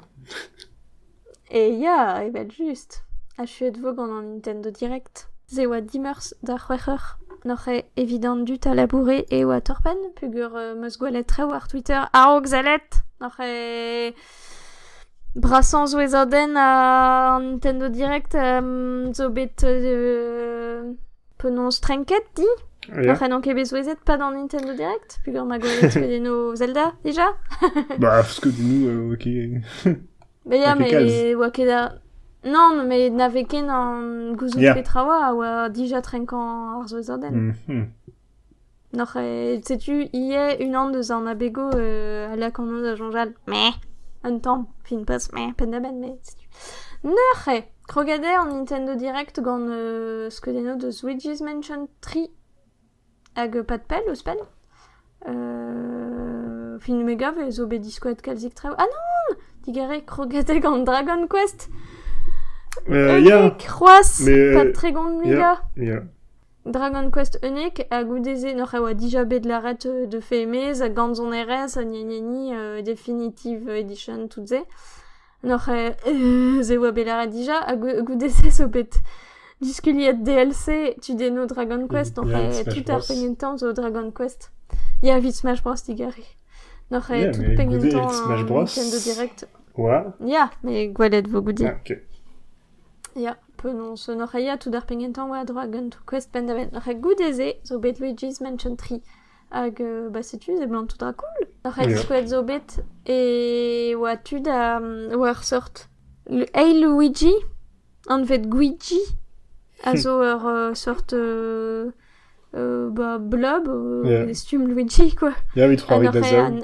E ya, evel-just. Achuet 'vo gant an Nintendo Direct. Se e oa dimeurzh da c'hwec'h eur. N'oc'h evit an dud a laboure e Waterpen peogwir 'm eus gwelet traoù ar Twitter a-raok sellet. N'oc'h brasañ souezhadenn an Nintendo Direct zo bet penaos trenket di? N'oc'h n'on ket bet souezhet pas d'an Nintendo Direct peogwir 'ma gwelet skeudennoù Zelda déjà? Bah, skeudennoù ok. Ba ya, mais oa ket a... Non, mais na vez ken an gouzout Yeah. petra oa a oa dija trenkañ ar souezhadenn. Mhm. Noc'h eo... Setu ivez unan deus an abego euh, a lak anv da soñjal mais un tamm, fin poz, mais penn-da-benn, mais setu... Noc'h eo! Kroget eo an Nintendo Direct gant euh, skeudennoù deus Luigi's Mansion 3. Hag pad pell ouzhpenn, film me gav zo bet diskoet kalzik traoù. Ah non! Digarez krogatek an Dragon Quest. Unik, c'hoazh, pad tregont mega. Dragon Quest Unique, ha goude-se n'oc'h a oa dija bet lâret de fait mez, gant son erez, gni gni gni, Definitive Edition, tout-se. N'oc'h aes e oa bet lâret dija ha goude-se zo bet diskuliet DLC tu denno Dragon Quest oc'h aes tout ar pegement tamm zo Dragon Quest. Ya, evit Smash Bros digarez. N'oc'h aes tout pegement tamm weekend direct. Ouais. Ya, mais gwelet vo goude. Ah, ok. Ya, penaos n'oc'h a ya tout ar pegement tamm oa Dragon Quest penn da benn. N'oc'h goude-se zo bet Luigi's Mansion 3. Hag bah setu se emañ tout cool. Ar c'hedskoed zo bet e oa tu da war seurt Hey Luigi, anvet Gwiji, a zo ur seurt bah blob, e stumm Luigi quoi. Ya, evit c'hoari da zaou.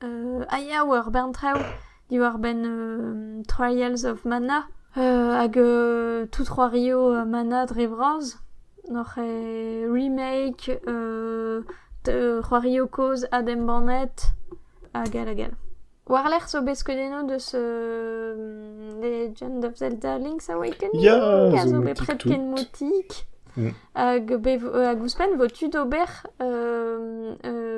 a ya war bern traoù diwar-benn Trials of Mana hag tout c'hoarioù Mana dre vras. Noc'h eo remake, c'hoarioù kozh adembannet hag all hag all. War-lerc'h zo bet skeudennoù deus Legend of Zelda Link's Awakening a zo bet pred ken moutik. Hag, hag ouzhpenn vo-tu d'ober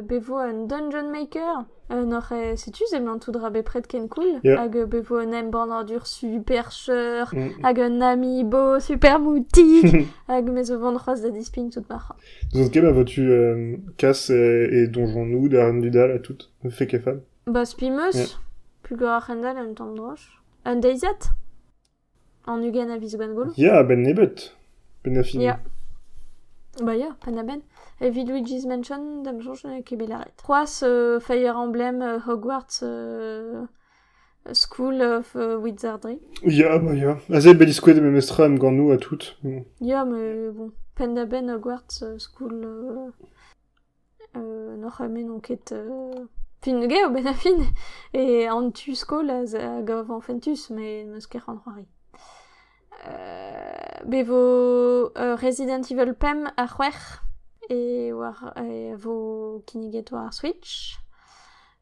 be vo un dungeon maker un oc'h setu seblantout ra bepred ken cool yeah. hag be vo un embannadur super cheur mm. hag un amiibo super moutig hag me zo vont c'hoazh da dispign tout ma c'ha. Zo ket ma vo-tu euh, Cass et, et donjon-nous da Dal à tout fait que fam Bah spi meus yeah. plus greur Hendal un temps droche un deiziat An ugent a viz Gwengolo Ya, a-benn nebeut. Penn ha fin. Ya. Ba ya, penn-ha-benn. Evit Luigi's Mansion, da 'm soñj n'eo ket bet lâret. C'hoazh, euh, Fire Emblem euh, Hogwarts euh, School of euh, Wizardry. Ya, bah ya. Aze bet diskouez memes tra em ganoù ha tout. Mm. Ya, mais bon, penn-ha-benn Hogwarts euh, School... euh, N'hor c'hamé n'on ket fentus-ge a-benn ar fin e an tu-skol a gavan fentus met n'eus ket c'hoant c'hoari. Be vo Resident Evil pemp ha c'hwec'h e oar e vo kinniget war ar Switch.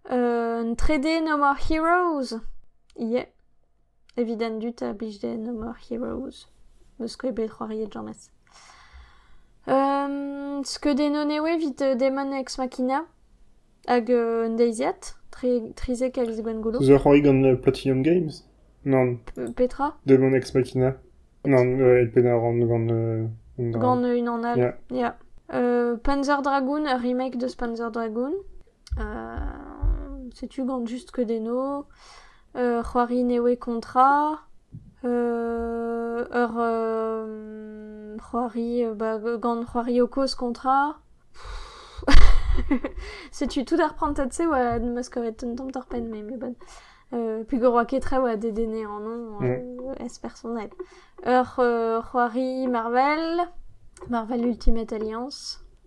An 3D No More Heroes, yeah. Evit an dud a blij dezhe No More Heroes n'eus ket bet c'hoariet james. skeudennoù eo evit Demon X Machina hag un deiziad trizek a viz Gwengolo. Zo c'hoari gant Platinum Games? Nann. Petra? Demon X Machina. Nann, e pennaran gant... gant unan all, ya. Panzer Dragoon, ur remake de Panzer Dragoon. setu gant just skeudenno, ur c'hoari nevez kontra, ur c'hoari ba gant c'hoario kozh kontra, setu tout ar prantad-se oa m'eus kavet un tamm torr-penn me meubad, peogwir oa ket traoù a dedenne annon ez-personel. Ur c'hoari Marvel, Marvel Ultimate Alliance.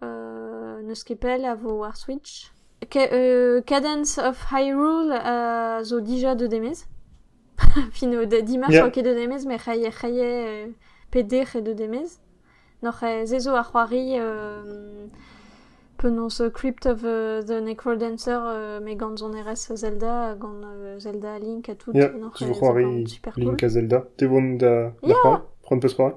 n'eus ket pell a vo ar Switch. Cadence of Hyrule zo dija deuet e-maez. Fin o dimarts oa ket deuet e-maez, met c'houie peder eo deuet e-maez. Noc'h se zo ar c'hoari penaos Crypt of the Necrodancer met gant sonerezh Zelda, gant Zelda Link ha tout. Ya, tu vo c'hoari Link ha Zelda. Te 'vo da c'hoari? Prendre peus part?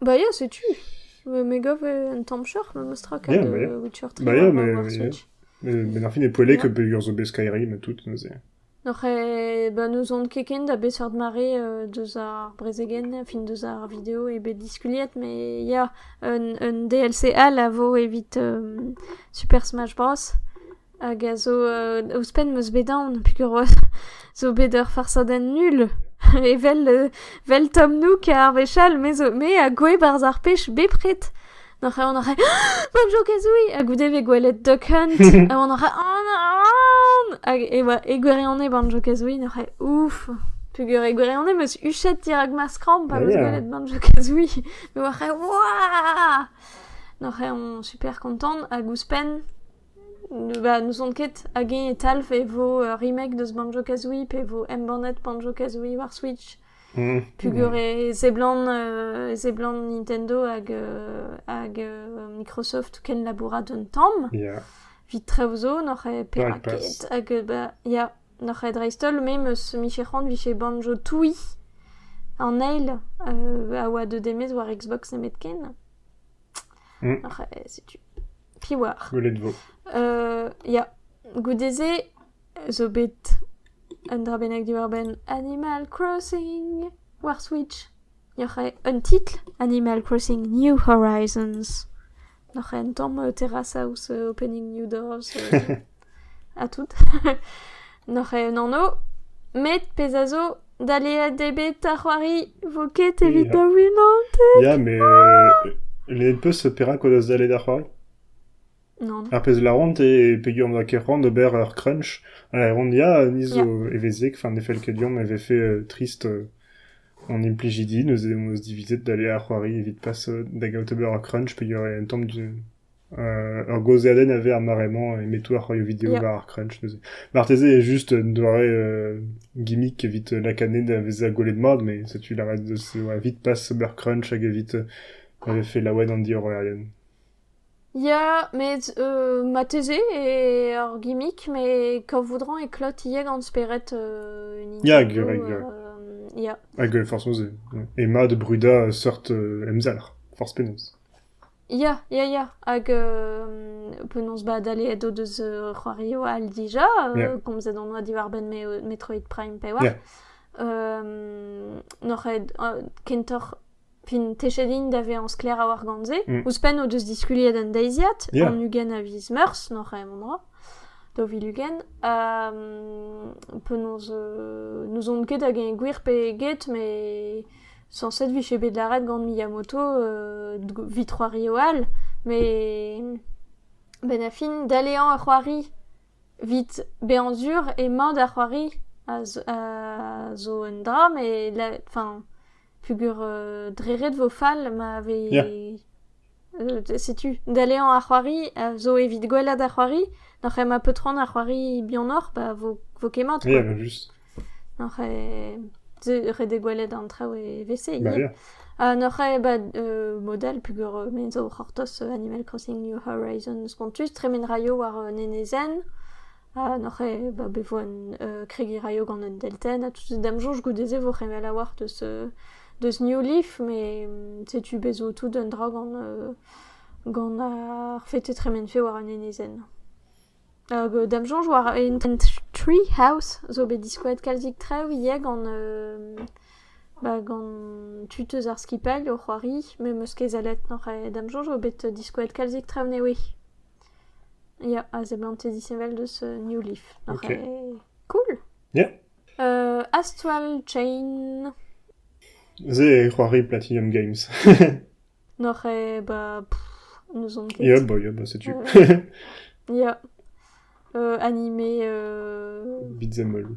Bah ya, setu. Me gav un tamm choc'h memes tra gant Witcher 3 Bah ya, ma Switch. Met ar fin e poellek e peger zo bet Skyrim ha tout neuze. Oc'h bah n'ouzon ket ken da beseurt mare deus ar brezegenn fin deus ar video eo bet diskuliet mais ya un DLC all a vo evit Super Smash Bros. Hag a zo ouzhpenn 'm eus bet aon pigoroz zo bet ur farsadenn nul evel vel Tom Nook ar wech all me zo me a goue 'barzh ar pech bepred. N'oc'h ket aon a rae Bon Jokez oui! Ha goude vez gwelet Duck Hunt ha oan a rae an an! Hag e oa e gwirionez Bon Jokez oui n'oc'h ae ouf! Peogwir e gwirionez 'm eus huchet dirak ma skramm pa 'm eus gwelet Bon Jokez oui. Me oa 'c'hae waaa! N'oc'h ae on super kontant hag ouzhpenn. n'ouzon ket hag-eñ e talv e vo remake deus Banjo-Kazooie pe e vo embannet Banjo-Kazooie war Switch peogwir e seblant e seblant Nintendo hag hag Microsoft ken labourat un tamm evit traoù zo n'oc'h eo perak ket hag ba ya n'oc'h eo dreist-holl me 'meus miche c'hoant vije Banjo Tooie an eil a oa deut e-maez war Xbox nemetken. Setu. Piv oar ? Gwelet 'vo. Ya, goude-se zo bet un dra bennak diwar-benn Animal Crossing war Switch. Yoc'h eo un titl, Animal Crossing New Horizons. Noc'h eo un tamm terrasaus opening new doors. ha tout. N'oc'h ket un anv met pezh a zo, daleet eo bet ar c'hoari vo ket evit Ya. da winañ. Ya, mais euh, les peus perak o deus dalet ar c'hoari Non. Ar pezh laron e pegwir n'oa ket c'hoant d'ober ur crunch. Ha laron ya, ni zo evezek, enfin ne fell ket deomp e vefe euh, trist euh, an implijidi, neuze hon eus divizet d'aller ar c'hoari evit pas euh, da gaout ober ur crunch pegwir eo un tamm du- Ur gaozeadenn a vez ar mare-mañ e-metou ar c'hoarioù video war ar crunch neuze. Marteze eo just un doare gimmick evit lakaat da vezañ gwelet mat, met setu lavaret deus evit pas ober crunch hag evit ma vefe laouen an diorroerien. Ya, met marteze eo ur gimmick, met kavout-rañ e klot ivez gant spered un interview. Ya, gwir, gwir. Ya. Hag forcément, c'est... Et mat brudañ seurt emzalc'h, forzh penaos. Ya, ya, ya, hag euh, penaos ba daleet o deus euh, c'hoarioù all dija, euh, Yeah. komzet on oa diwar-benn me- Metroid Prime pe oa. Yeah. Euh, n'oc'h ket euh, kentoc'h, fin, techet int da vezañ sklaer a-walc'h gant-se. Mm. Ouzhpenn o deus diskuliet an deiziad, Yeah. an ugent a viz Meurzh, n'oc'h ket memestra, daou vil ugent. Euh, penaos, euh, n'ouzon ket hag eñ gwir pe get, met Sañset 'vije bet lâret gant Miyamoto evit c'hoari all, met benn ar fin daleañ ur c'hoari evit bezañ sur emañ da c'hoari a zo un dra met enfin peogwir dre ret vo fall ma vez... setu daleañ ar c'hoari a zo evit gwellañ da c'hoari nac'h emañ paotron ar c'hoari bihanoc'h ba vo vo ket mat quoi. nac'h eo ret eo gwelet an traoù evel-se ivez ha nac'h eo ba mod all peogwir me zo o c'hortoz Animal Crossing New Horizons spontus tremen raio war un enezenn Ah noc'h eo bah bet vo un kregiñ 'raio gant un deltenn ha tout d'am soñj goude-se vo c'hemel a-walc'h deus deus New Leaf met setu bez' zo tout un dra gant gant ar fait e tremenfe war an enezenn. Hag da'm soñj war Intent Tree House zo bet diskoaet kalzik traoù ivez gant bah gant tud eus ar skipailh o c'hoari met 'm eus ket sellet noc'h eo da'm soñj vo bet diskoaet kalzik traoù newe. Ya, a seblante disheñvel deus New Leaf. Ok. Cool! Yeah. Euh, Astral Chain. Se eo c'hoari Platinum Games. N'oc'h e ba... pff, n'ouzon ket. Yop, bah, yop, bah, setu. Euh, ya. Euh, animé... Euh... Beat'em all.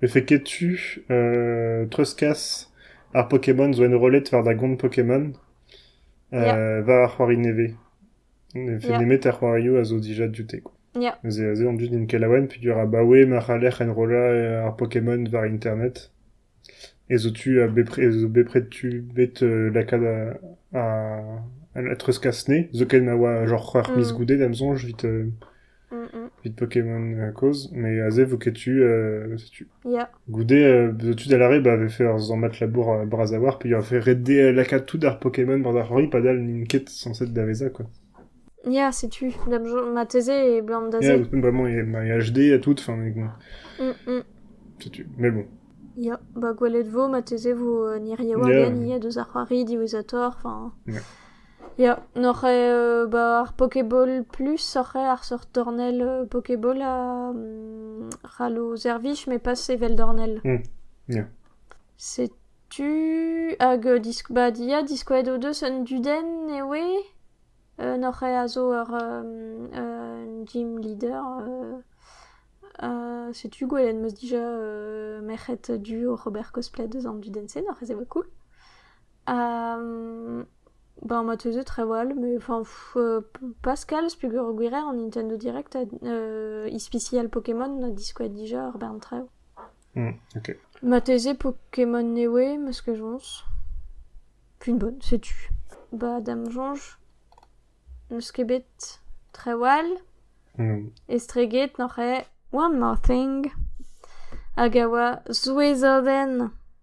Vefe ket tu treuzkas ar Pokémon zo enrollet war da gont Pokémon war ar c'hoari nevez. Ne vefe Yeah. nemet ar c'hoarioù a zo dija dioute quoi. Yeah. Neuze aze on dud int kelaouenn peogwir abaoe ma c'haller enrollañ ar Pokémon war internet ez zo tu ha bepred ez zo bepred tu bet euh, lakaat a- a- a treuzkas 'ne zoken ma oa genre c'hwec'h miz Mm. goude da'm soñj 'vit euh, Evit Pokémon kozh, met aze vo ket tu, setu. Goude, zo tu da lâret ba vefe ur sammad labour bras a-walc'h peogwir vefe ret dezhe lakaat tout ar Pokémon barzh ar c'hoari padal n'int ket sañset da vezañ quoi. Ya, setu, marteze eblamm da se. Ya, vraiment, il y a HD à tout, enfin, setu, mais bon. Ya, ba gwelet vo, marteze vo ni re war-den ivez deus ar c'hoari diwezhatoc'h, enfin... Ya, n'oc'h ket ba ar pokeball plus oc'h eo ar seurt dornell pokeball a c'hall ho servij met pas evel dornell. Ya. Setu hag disk- ba ya diskouez ho deus un dudenn e oe. N'oc'h ket a zo ur un gym leader. setu gwelet 'm eus dija merc'hed du oc'h ober cosplay deus an dudenn-se, n'oc'h ket se oa cool? Ba ma teuse trawal, mais enfin pas kalz peogwir an Nintendo Direct a ispisial Pokémon a diskouez dija ur bern traoù. Ok. Marteze Pokémon Neway, ma soñj. Une bonne, setu. Ba da'm soñj, n'eus ket bet trawal. Estreget noc'h eo One More Thing hag a oa souezhodenn.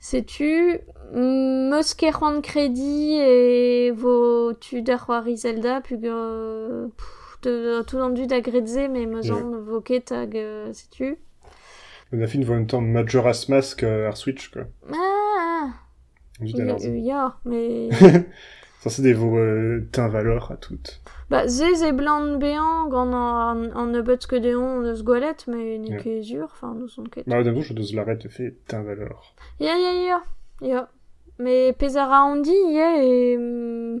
Setu, 'meus ket c'hoant krediñ e vo tu da c'hoari Zelda peogwir tout an dud a gred se met 'meus aon ne vo ket hag setu. An fin 'vo un tamm Majora's Mask ar Switch quoi. Ah! Vite alors. Ya, mais... Sañset e vo euh, teñvaloc'h ha tout. Bah, ze zeblant bezañ gant an, an nebeut que deomp hon eus gwelet, mais n'eo Yeah. ket sur, enfin, n'ouzon ket. Bah, d'un coup, je deus lâret de fait teñvaloc'h. Ya, ya, ya, ya. Mais pezh a ra on dit ivez, et... mm,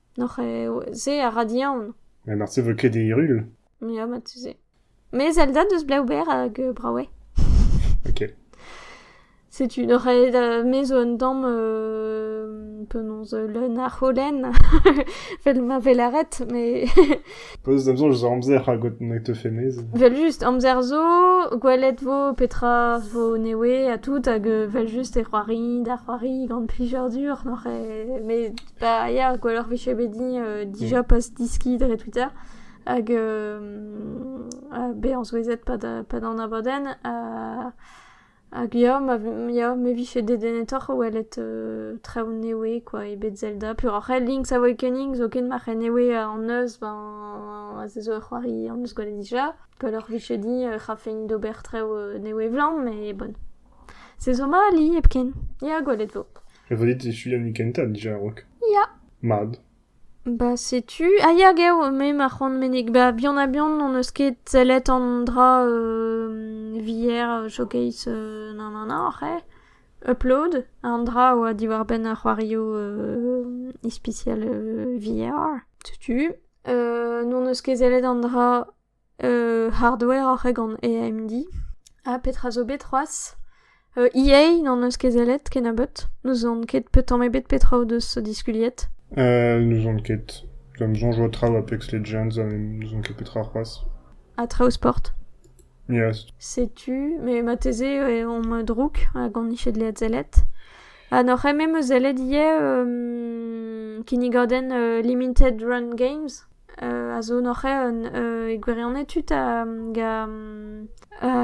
Noc'h eo... se a ra diaon. Ha marteze e vo ket hiriv. Ya, marteze. Mes Elda deus Bleuber hag euh, Braoué. Ok. Setu, noc'h eo da... me zo un tamm euh, penaos leun a c'holen, vel ma vel aret, mais... Peus amzer eus amzer hag ne te fait mez. Vel just, amzer zo, gwelet vo petra vo newe ha tout, hag euh, vel just e c'hoari, da c'hoari gant plijadur, noc'h eo... mais Bah ya, gwelloc'h 'vije bet din euh, dija pas deskiñ dre Twitter. Hag euh, be on souezhet pa da, pa da anabadenn. Ha hag ya, ma, ya, me 'vije dedennetoc'h o welet euh, traoù newe quoi, ebet Zelda. Puroc'h eo Link's Awakening zo ket marc'h newe an eus, ben se zo ur c'hoari an eus gwelet dija. Gwelloc'h 'vije din euh, c'hafein d'ober traoù euh, newe 'vlañ, mais bon. Se zo ma ali hepken. Ya, gwelet 'vo. Evo dit echuiñ an hini kentañ dija a-raok. Ya. Mat. Ba setu... Ah ya gav, me ma c'hoant meneg. Ba bihan-ha-bihan n'hon eus ket sellet an dra euh, VR, euh, showcase, euh, nan nan nan, c'heh. Upload, an dra a oa diwar-benn ar c'hoarioù euh, ispisial euh, VR. Setu. Euh, n'hon eus ket sellet an dra hardoueroc'h eo gant AMD. Ha petra zo bet c'hoazh? EA n'en eus ket sellet kennebeut. N'ouzon ket tamm ebet petra o deus diskuliet. N'ouzon ket. Gant soñj o traoù a Apex Legends n'ouzon ket petra c'hoazh. Ha traoù sport? Yes. Setu, mais marteze on me drouk hag on ije dleet sellet. Ha n'oc'h ket me 'm eus sellet ivez kinnigadenn Limited Run Games. a zo noc'hañ e gwirionez tud a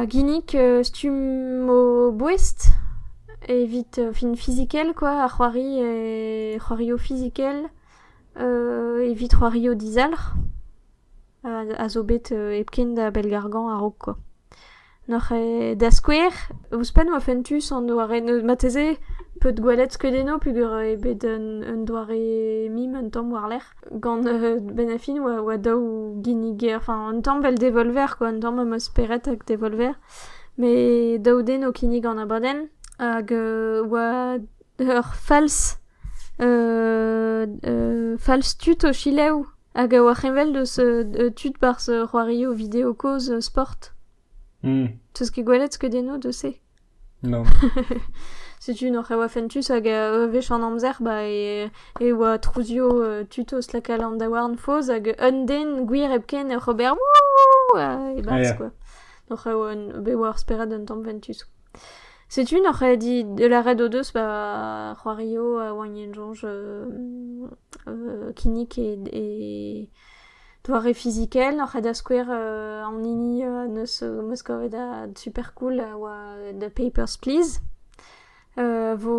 ginnig stumm o boest evit o fin fizikel kwa, ar c'hoari e c'hoarioù fizikel evit c'hoarioù dizalc'h a zo bet hepken da bellgargañ a-raok kwa. Noc'h eo da skouer, ouzhpenn ma fentus an doare marteze peut gwelet skeudennoù peogwir eo bet un doare mim un tamm war-lerc'h gant benn ar fin oa oa daou ginnig enfin un tamm 'vel devolver quoi, un tamm am eus spered ag devolver, met daou den o kinnig an abadenn hag oa ur falz falz tud o selaou hag a oar heñvel deus tud barzh c'hoarioù video kozh sport. Teus ket gwelet skeudennoù deus se? Nann. Setu noc'h e oa fentus hag a wech an amzer ba e oa trouzio tud o slakal an daouarn faos hag un den gwir hepken oc'h ober wouh e-barzh quoi. Noc'h e oa bet war spered un tamm fentus. Setu n'oc'h ket dit lâret o deus ba c'hoario a oagn en soñj kinnig e e doare fizikel. N'oc'h ket da skouer an hini neus 'meus kavet supercool a oa The Papers, Please. vo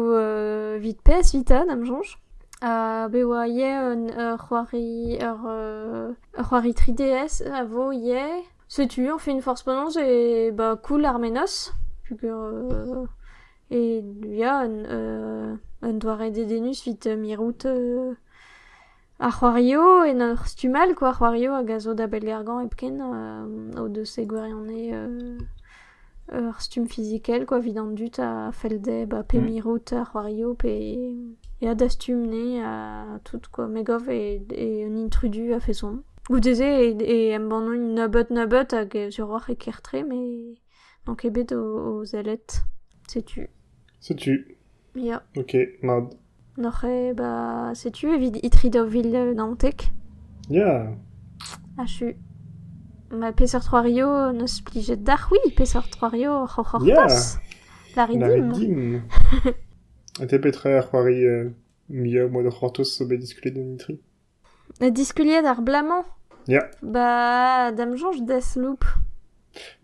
evit pezh 'vita da'm soñj. be oa ivez un ur c'hoari ur c'hoari 3DS a vo ivez. Setu añ fin forzh penaos e ba koul ar mennozh peogwir e ya un doare dedennus evit mirout ar c'hoarioù en ur stumm all kwa, ar c'hoarioù hag a zo da bellgargañ hepken o deus e gwirionez Ur stumm fizikel kwa evit an dud a fell dezhe ba pep mirout a c'hoario pe ya da stumm-nez ha tout quoi me gav eo un intrudu a-feson. Goude-se e embanno un nebeud-nebeud hag suroc'h e ker-tre met n'on ket bet o sellet. Setu. Setu. Ya. Ok, mat. Noc'h eo ba... setu evit itri daou vil naontek. Ya! Achu. Ma peseurt c'hoario n'eus plijet deoc'h c'hwi? Peseurt c'hoario oc'h hortoz? Lârit dimp. Lârit dimp. Ha te petra ar c'hoari muiañ o moa da c'hortoz zo bet diskuliet en itri? Diskuliet ar bloaz-mañ ? Ya. Ba da'm soñj des loup.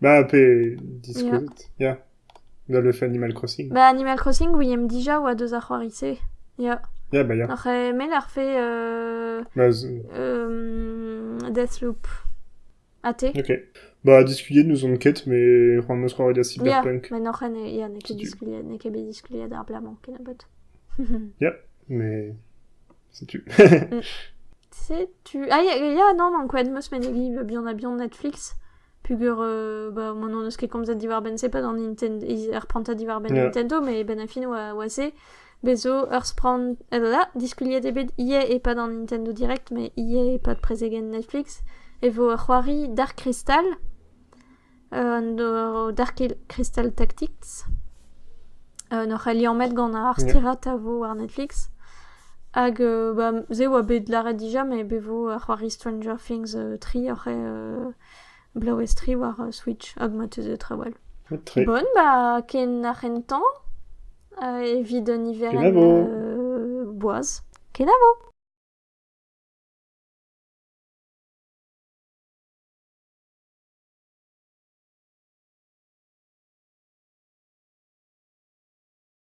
Bah pe diskouezet, ya. Dans le fait Animal Crossing. Bah Animal Crossing oui emp dija oa deus ar c'hoari-se, ya. Ya bah ya. Oc'h emell ar fe euh... Bah z- euh... Deathloop. Ha te Ok. Bah, diskuliet n'ouzon ket, mais c'hoant am eus c'hoari da Cyberpunk. Ya, men oc'hen e- ya, n'eo ket diskuliet, n'eo ket bet diskuliet ar blaz-mañ kennebeut. Mais setu. Setu... Ah, ya, ya, non, man, quoi, demeus menegiñ bah, buan ha buan Netflix. Pugur, euh, bah, moi, n'en eus ket komzet diwar-benn c'est pas dans Nintendo... Ils reprennent pas diwar-benn Yeah. Nintendo, mais ben a fin oa, oa se. Bez' zo ur sprann evel-ha diskuliet eo bet ivez e-pad an Nintendo Direct met ivez e-pad prezegenn Netflix e vo ur c'hoari Dark Crystal an Dark Crystal Tactics en hoc'h ali lammet gant ar stirad a vo war Netflix hag ba se oa bet lâret dija met bet vo ar c'hoari Stranger Things tri oc'h Bloez-tre war Switch hag ma teus trawal. Ret-tre. Bon ba ken ar c'hentañ evit un niverenn Kenavo. euh, boaz. Kenavo!